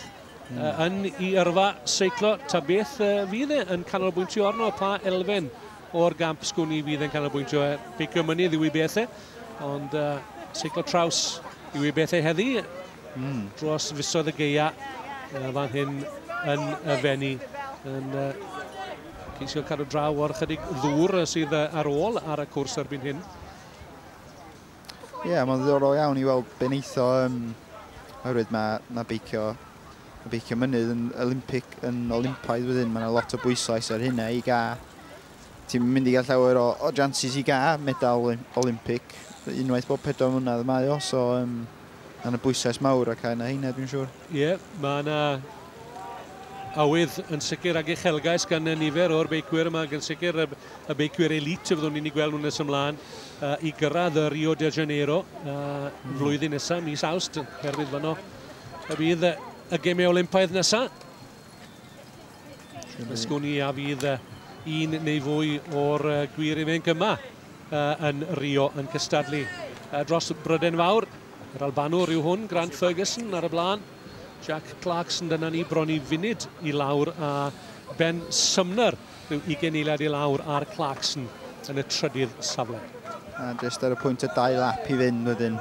mm. yn i yrfa seiclo ta beth fydd e yn canolbwyntio arno pa elfen o'r gamp sgwn i fydd yn canolbwyntio e beicio mynydd yw i bethau ond uh, seiclo traws yw i bethau heddi Mm. Dros fisoedd y geia uh, fan hyn yn y fenni yn uh, ceisio cadw draw o'r chydig ddŵr sydd ar ôl ar y cwrs erbyn hyn. Ie, yeah, mae'n ddiddorol iawn i weld beneitho um, oherwydd mae, mae beicio y beicio mynydd yn Olympic, yn Olympaidd wedyn, mae yna lot o bwyslais ar hynna i gael Ti'n mynd i gael llawer o, o jances i gael medal Olympic. Unwaith bob pedwar mlynedd mae o, so um, yna bwysau mawr ac yna heina, dwi'n siŵr. Ie, yeah, mae yna awydd yn sicr ag uchelgais gan y nifer o'r beicwyr yma, gan sicr y, y beicwyr elit y fyddwn ni'n ei gweld nhw'n nes ymlaen uh, i gyrraedd y Rio de Janeiro uh, mm. flwyddyn nesaf, mis awst, herwydd fanno y bydd y gemau Olympaidd nesaf. Ysgwn i a fydd un neu fwy o'r gwir imenc yma yn Rio yn cystadlu dros Bryden Fawr. Yr Albanwr yw hwn, Grant Ferguson ar y blaen. Jack Clarkson dyna ni bron i funud i lawr a Ben Sumner rhyw 20 eiliad i lawr ar Clarkson yn y trydydd safle. A jyst ar y pwynt o dau lap i fynd wedyn.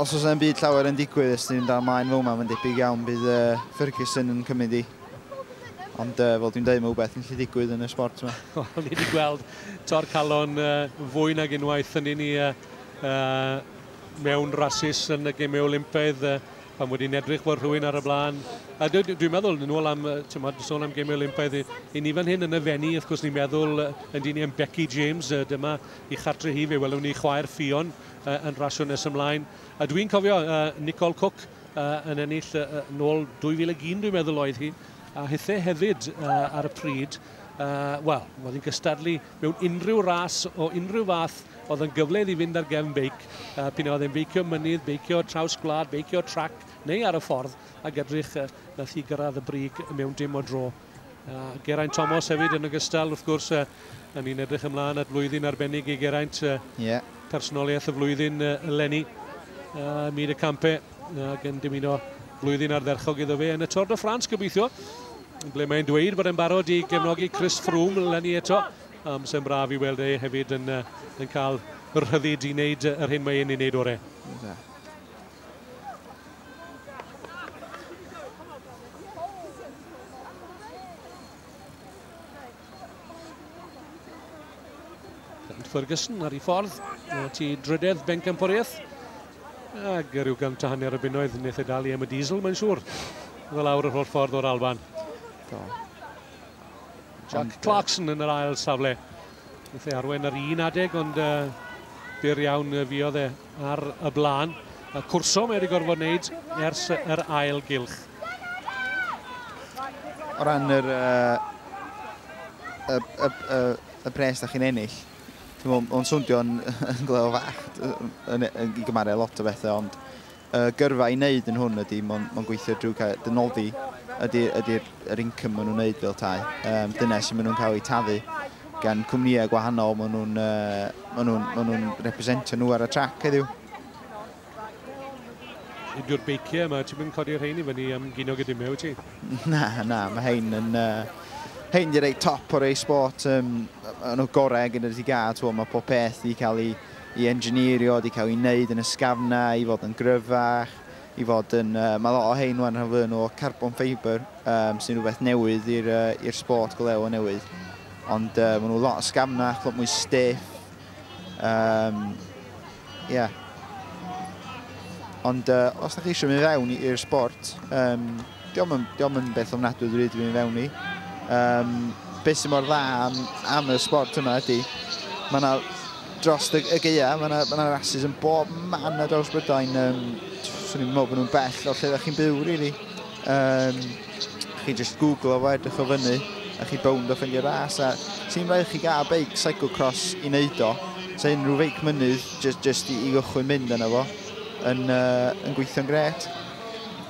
os oes e'n byd llawer yn digwydd ys ni'n dal maen fawr mae'n debyg iawn bydd uh, Ferguson yn cymryd i. Ond uh, fel dwi'n dweud, mae rhywbeth yn lle digwydd yn y sport yma. Wel, ni wedi gweld tor calon uh, fwy nag unwaith yn un i uh, uh, mewn rasis yn y gemau Olympaidd uh, pan wedi edrych bod rhywun ar y blaen. A dwi'n dwi meddwl, yn ôl am, tymod, sôn am gemau Olympaidd, i, i ni fan hyn yn y fenni, wrth gwrs ni'n meddwl, yn dyn ni am Becky James, uh, dyma i chartre hi, fe welwn ni chwaer Ffion yy yn rasio nes ymlaen. A dwi'n cofio uh, Nicole Cook uh, yn ennill uh, nôl 2001 dwi'n meddwl oedd hi, a hithe hefyd uh, ar y pryd. Uh, Wel, oedd hi'n gystadlu mewn unrhyw ras o unrhyw fath oedd yn gyfle iddi fynd ar gefn beic, uh, pyn oedd e'n beicio mynydd, beicio traws gwlad, beicio trac neu ar y ffordd, ac edrych uh, nath hi gyrraedd y brig mewn dim o dro. A Geraint Thomas hefyd yn ogystal, wrth gwrs, uh, yn ni'n edrych ymlaen at flwyddyn arbennig i Geraint. Uh, yeah. Personoliaeth y flwyddyn uh, eleni, uh, Myd y Campe, ac yn dymuno flwyddyn ardderchog iddo fe yn y Tôr de France gobeithio, ble mae'n dweud bod e'n barod i gefnogi Chris Froome eleni eto. Am sy'n braf i weld e hefyd yn, uh, yn cael rhyddid i wneud yr hyn mae e'n ei wneud orau. Yeah. Grant Ferguson ar ei ffordd o ti drydedd Bencampwriaeth. Ac rhyw gant a hanner y bunnoedd wnaeth e dal i am y diesel, mae'n siŵr. Oedd lawr yr holl ffordd o'r Alban. Do. Jack Clarkson yn yr ail safle. Wnaeth e arwain ar un adeg, ond uh, byr iawn uh, fiodd e ar y blaen. A cwrso mae wedi gorfod wneud ers yr ail gylch. O ran yr, uh, y, y, y, y bres da chi'n ennill, mae'n swndio yn, yn gleo fach yn, yn, yn, yn gymaru lot o bethau, ond y gyrfa i wneud yn hwn ydy, mae'n ma gweithio drwy cael dy noddi, ydy'r ydy yr income maen nhw'n wneud fel tai. Um, dyna sy'n maen nhw'n cael eu taddu gan cwmnïau gwahanol maen nhw'n uh, ma nhw, ma nhw representio nhw ar y trac heddiw. Nid yw'r beiciau yma, ti'n mynd codi'r rhain i fyny am gynog y dimeu, ti? Na, na, mae hein yn... Uh, hein di rei top o'r ei sport, um, yn o gorau gyda'r ti gael, mae pob peth i cael ei i engineerio, wedi cael eu neud yn ysgafnau i fod yn gryfach, i fod yn... Yy mae lot o hein wan rhan fwya nhw o carbon fibre yym sy'n rhywbeth newydd i'r yy i'r sport go lew o newydd. Ond yy maen nhw lot yn sgafnach, lot mwy stiff. Yym ie. Ond yy os dach chi eisiau mynd fewn i'r sport yym Dio'm yn, dio'm yn beth ofnadwy dwi wedi mynd i fewn i. Um, beth sy'n mor dda am, am y sport yma ydy, mae yna dros y, y geia, mae yna, ma rasis yn bob man ar draws Brydain. Um, Swn i'n meddwl bod nhw'n bell o lle ydych chi'n byw, really. Um, chi just googlo fo, edrych o fyny, a chi bownd o ffendio ras. A sy'n rhaid chi gael beic cyclocross i wneud o. So unrhyw feic mynydd, just, just i, i gychwyn mynd yna fo, yn, uh, yn gweithio'n gret.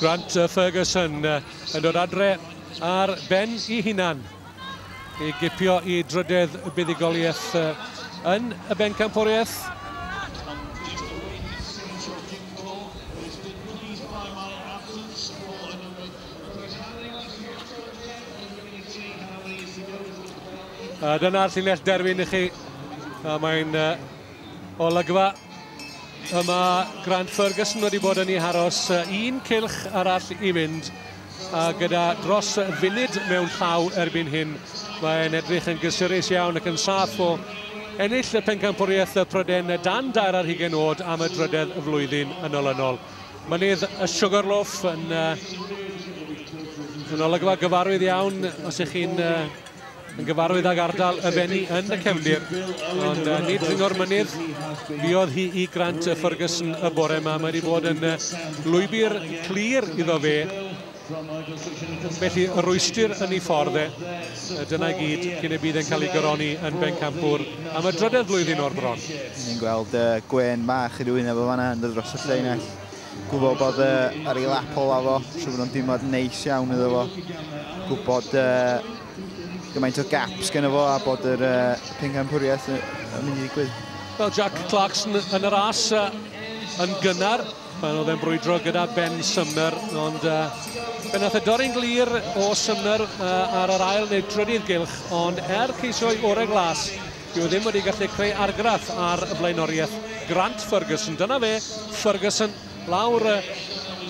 Grant Ferguson yn dod adre ar ben i hunan i gipio i drydedd y buddigoliaeth yn y bencampwriaeth. A dyna'r llinell derfyn i chi. A mae'n uh, olygfa y mae Grant Ferguson wedi bod yn ei haros un cilch arall i fynd a gyda dros funud mewn llaw erbyn hyn mae'n edrych yn gysurus iawn ac yn saff o ennill y pencampwriaeth y Pryden dan dair ar hugen oed am y drydedd flwyddyn yn olynol. Mynydd y Sugarloaf yn, yn olygfa gyfarwydd iawn os ych chi'n yn gyfarwydd ag ardal y Fenni yn y cefndir. Ond uh, nid dringo'r mynydd, fiodd hi i Grant y Ferguson y bore yma. Mae wedi bod yn lwybr clir iddo fe Felly, y rwystr yn ei ffordd e, dyna i gyd cyn y bydd e'n cael ei gyroni yn Bencampwr am y drydedd flwyddyn o'r bron. Ni'n gweld uh, gwen bach i rywun efo fanna yn dod dros y llinell. Gwybod bod uh, ar ei lap ola fo, siw bod o'n dimod neis iawn iddo fo. Gwybod uh, gymaint o gaps gen fo a bod yr uh, pencampwriaeth yn mynd i ddigwydd. Wel, Jack Clarkson yn yr as uh, yn gynnar. Pan oedd e'n brwydro gyda Ben Sumner, ond uh, fe nath e dorri'n glir o Sumner uh, ar yr ail neu drydydd gylch, ond er ceisio'i orau glas, dyw e ddim wedi gallu creu argraff ar y flaenoriaeth Grant Ferguson. Dyna fe, Ferguson, lawr y,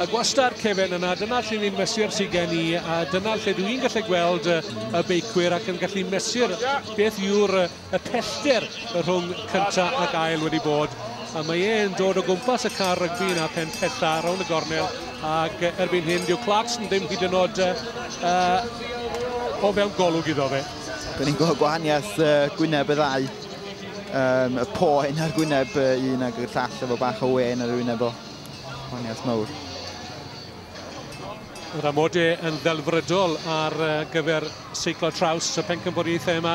y gwastad cefen yna, dyna lle ni'n mesur sy'n gen i, a dyna lle dwi'n gallu gweld y beicwyr ac yn gallu mesur beth yw'r y pellter y rhwng cynta ac ail wedi bod a mae e'n dod o gwmpas y car rygbi yna pen pella rown y gornel ac erbyn hyn dyw Clarkson ddim hyd yn oed uh, o fewn golwg iddo fe. Dyn ni'n gweld gwahaniaeth uh, gwyneb y ddau. Um, y poen ar gwyneb uh, un ag y llall efo bach o wen ar y wyneb o. Gwahaniaeth mawr. Yr amode yn ddelfrydol ar gyfer seiclo traws y pencampwriaethau yma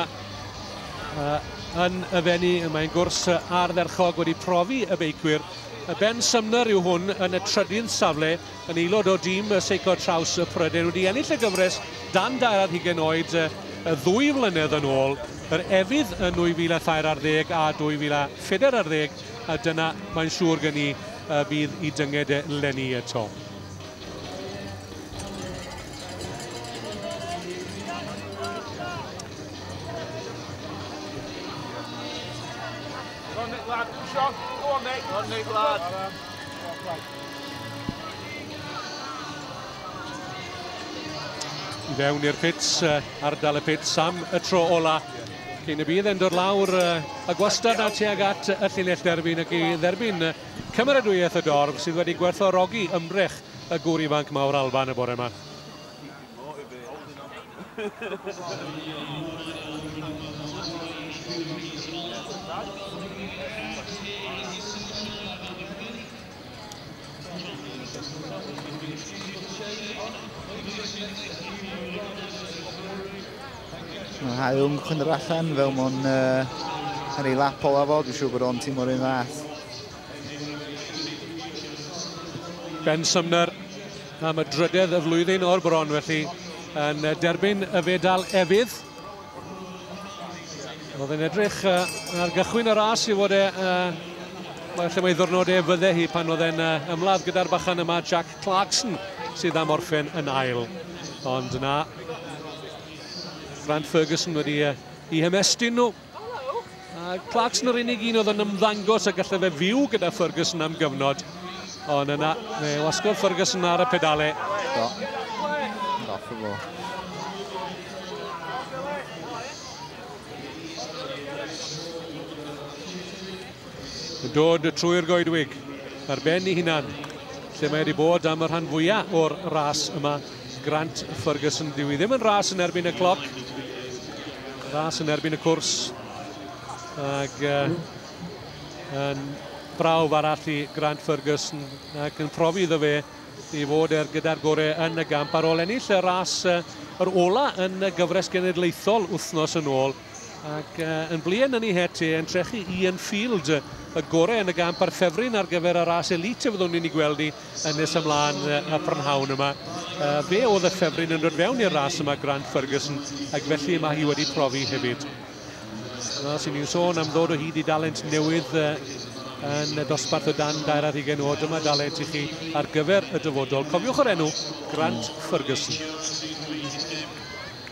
yn y fenni. Mae'n gwrs ardderchog wedi profi y beicwyr. Y Ben Sumner yw hwn yn y trydydd safle yn aelod o dîm y seiclo traws y Prydain wedi ennill y gyfres dan dair ar hugen oed y ddwy flynedd yn ôl yr efydd yn 2013 a 2014 a dyna mae'n siŵr gen i y bydd i dynged e leni eto. I fewn i'r pits, ardal y pits am y tro ola. Cyn y bydd e'n dod lawr y gwastad a tuag at y llinell derbyn ac i dderbyn cymeradwyaeth y dorf sydd wedi gwerthorogi ymdrech y gŵr ifanc mawr Alban y bore yma. Mae Haeung chwyn yr allan fel mwyn uh, ar ei lap ola fo, dwi'n siŵr bod o'n tîm o'r un fath. Ben Sumner am y drydedd y flwyddyn o'r bron felly yn derbyn y fedal efydd. Oedd yn edrych uh, ar gychwyn y ras i fod e... Uh, lle mae ddwrnodau fydde hi pan oedd e'n uh, ymladd gyda'r bachan yma Jack Clarkson sydd am orffen yn ail. Ond na, Grant Ferguson wedi uh, i hymestyn nhw. A Clarkson yr unig un oedd yn ymddangos a gallai fe fyw gyda Ferguson am gyfnod. Ond yna, fe wasgodd Ferguson ar y pedale. Do. Dath o fo. yn dod trwy'r goedwig ar ben ei hunan lle mae wedi bod am y rhan fwyaf o'r ras yma. Grant Ferguson, dyw i ddim yn ras yn erbyn y cloc. Ras yn erbyn y cwrs. Ac uh, yn brawf arall i Grant Ferguson ac yn profi iddo fe i fod er gyda'r gorau yn y gamp ar ôl ennill y ras uh, yr ola yn y gyfres genedlaethol wythnos yn ôl ac uh, yn blien yn ei het e yn trechu Ian Field y gorau yn y gamp ar ffefryn ar gyfer y ras elite y fyddwn ni'n ei gweld ni yn nes ymlaen y prynhawn yma. Uh, fe oedd y ffefryn yn dod fewn i'r ras yma Grant Ferguson ac felly mae hi wedi profi hefyd. Os ydyn ni'n sôn am ddod o hyd i dalent newydd uh, yn y dosbarth o dan dair ar hugen o dyma dalent i chi ar gyfer y dyfodol. Cofiwch yr enw Grant Ferguson.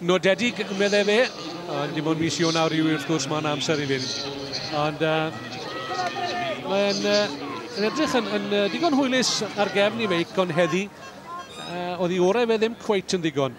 Nodedig, meddai fe, ond dim ond mis Ionawr yw wrth gwrs mae'n amser i fynd. Ond uh, mae'n uh, edrych yn, yn uh, digon hwylus ar gefn i feic, ond heddi uh, oedd i orau fe ddim cweit yn ddigon.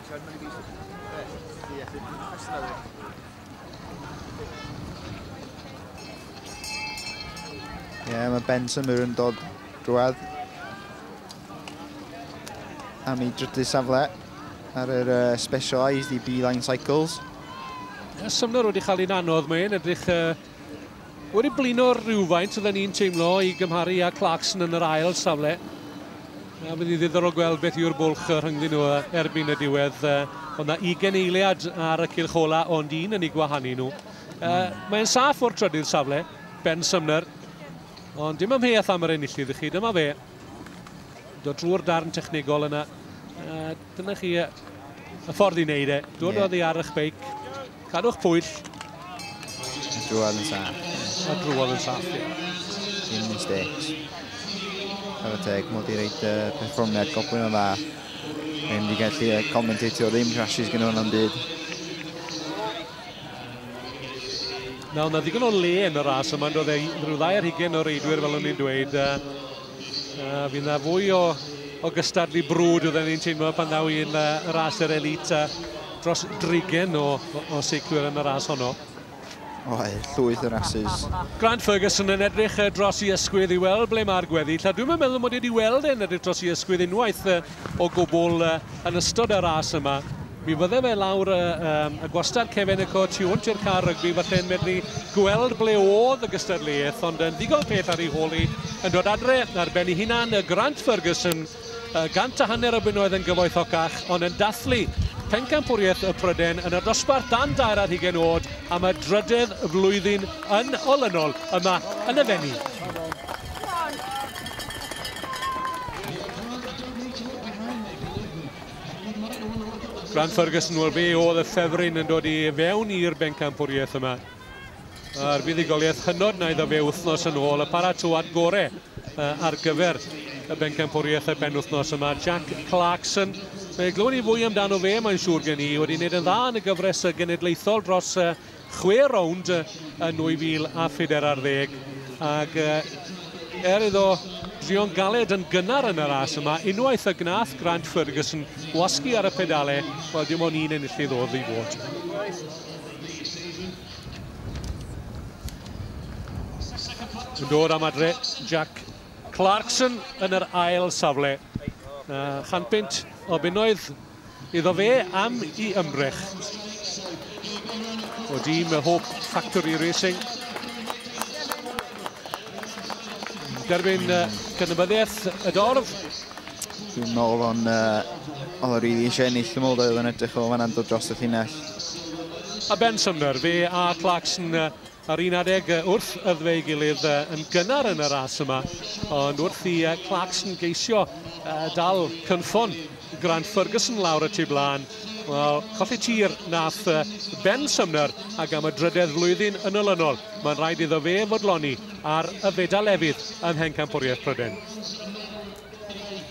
Siarad mwy fi. Ie, fi'n cwestiwn ar Ie, yeah, mae Ben Symur yn dod drwad am ei drydydd safle ar yr uh, specialised i B-Line Cycles. Symnor wedi cael un anodd, mae'n edrych uh, Wedi blino rhywfaint, oedden ni'n teimlo, i gymharu â Clarkson yn yr ail safle. A bydd hi'n ddiddorol gweld beth yw'r bwlch rhyngddyn nhw erbyn y diwedd. Oedd na ugen eiliad ar y cylch ola, ond un yn ei gwahanu nhw. Mm. Mae'n saff o'r trydydd safle, Ben Sumner. Ond dim amheuaeth am yr enillydd i chi, dyma fe. Dod drwy'r darn technegol yna. Dyna chi y ffordd i wneud e. Dod yeah. oddi ar eich beic, cadw'ch pwyll. A drwodd yn saff. A drwodd yn saff, ie. Dim mistakes. Ar y teg, mod i reid uh, perfformiad goblin o dda. Rwy'n wedi gallu uh, commentatio ddim crashes gyda hwn am byd. Nawr, na ddigon o le yn y ras yma, ond oedd e rhyw ddau ar hugen o reidwyr fel o'n i'n dweud. Uh, A fydd 'na fwy o o gystadlu brwd oedden ni'n teimlo pan ddaw i'n uh, ras yr elit a dros drigen o, o, o seiclwyr yn y ras honno. Oe, llwyth o rasys. Grant Ferguson yn edrych uh, dros i ysgwydd i weld ble mae'r gweddill, a dwi'n meddwl mod i wedi weld e'n edrych dros i ysgwydd unwaith uh, o gwbl uh, yn ystod y ras yma. Mi fydde fe lawr y, um, y gwastad cefen y co tu hwnt i'r car rygbi, falle yn medru gweld ble oedd y gystadleuaeth, ond yn ddigon peth ar ei hôl i, yn dod adre ar ben ei hunan, y Grant Ferguson, uh, gant a hanner o bunnoedd yn gyfoethocach, ond yn dathlu pencampwriaeth y Pryden yn y dosbarth dan dair ar hugen oed am y drydedd flwyddyn yn olynol yma yn y fenni. Fran Ferguson, wel fe oedd y ffefryn yn dod i fewn i'r bencampwriaeth yma. A'r fuddugoliaeth hynod na iddo fe wythnos yn ôl, y paratoad gore ar gyfer y bencampwriaeth y penwthnos yma. Jack Clarkson, fe glywed ni fwy amdano fe, mae'n siŵr gen i, wedi wneud yn dda yn y gyfres genedlaethol dros chwe rownd yn 2014 ar ddeg ac er iddo drio'n galed yn gynnar yn y ras yma, unwaith y gnath Grant Ferguson gwasgu ar y pedale, wel dim ond un enillydd oedd ei fod. Yn dod am adre Jack Clarkson yn yr ail safle. Uh, chanpynt o bunnoedd Iddo fe am i ymrech. O dîm y Hope Factory Racing. Derbyn uh, cydnabyddiaeth y dorf. Dwi'n meddwl o'n uh, oedd rili eisiau ennill yn ôl oedd yn edrych o fanna'n dod dros y llinell. A Ben Sumner, fe a Clarkson uh, Ar un adeg wrth ydw ei gilydd yn gynnar yn y ras yma, ond wrth i Clarkson geisio dal cynffon Grant Ferguson lawr y tu blaen, wel, colli tir nath Ben Sumner ac am y drydedd flwyddyn yn olynol, mae'n rhaid iddo fe fodloni ar y fedal efydd ym Mhencampwriaeth Prydain.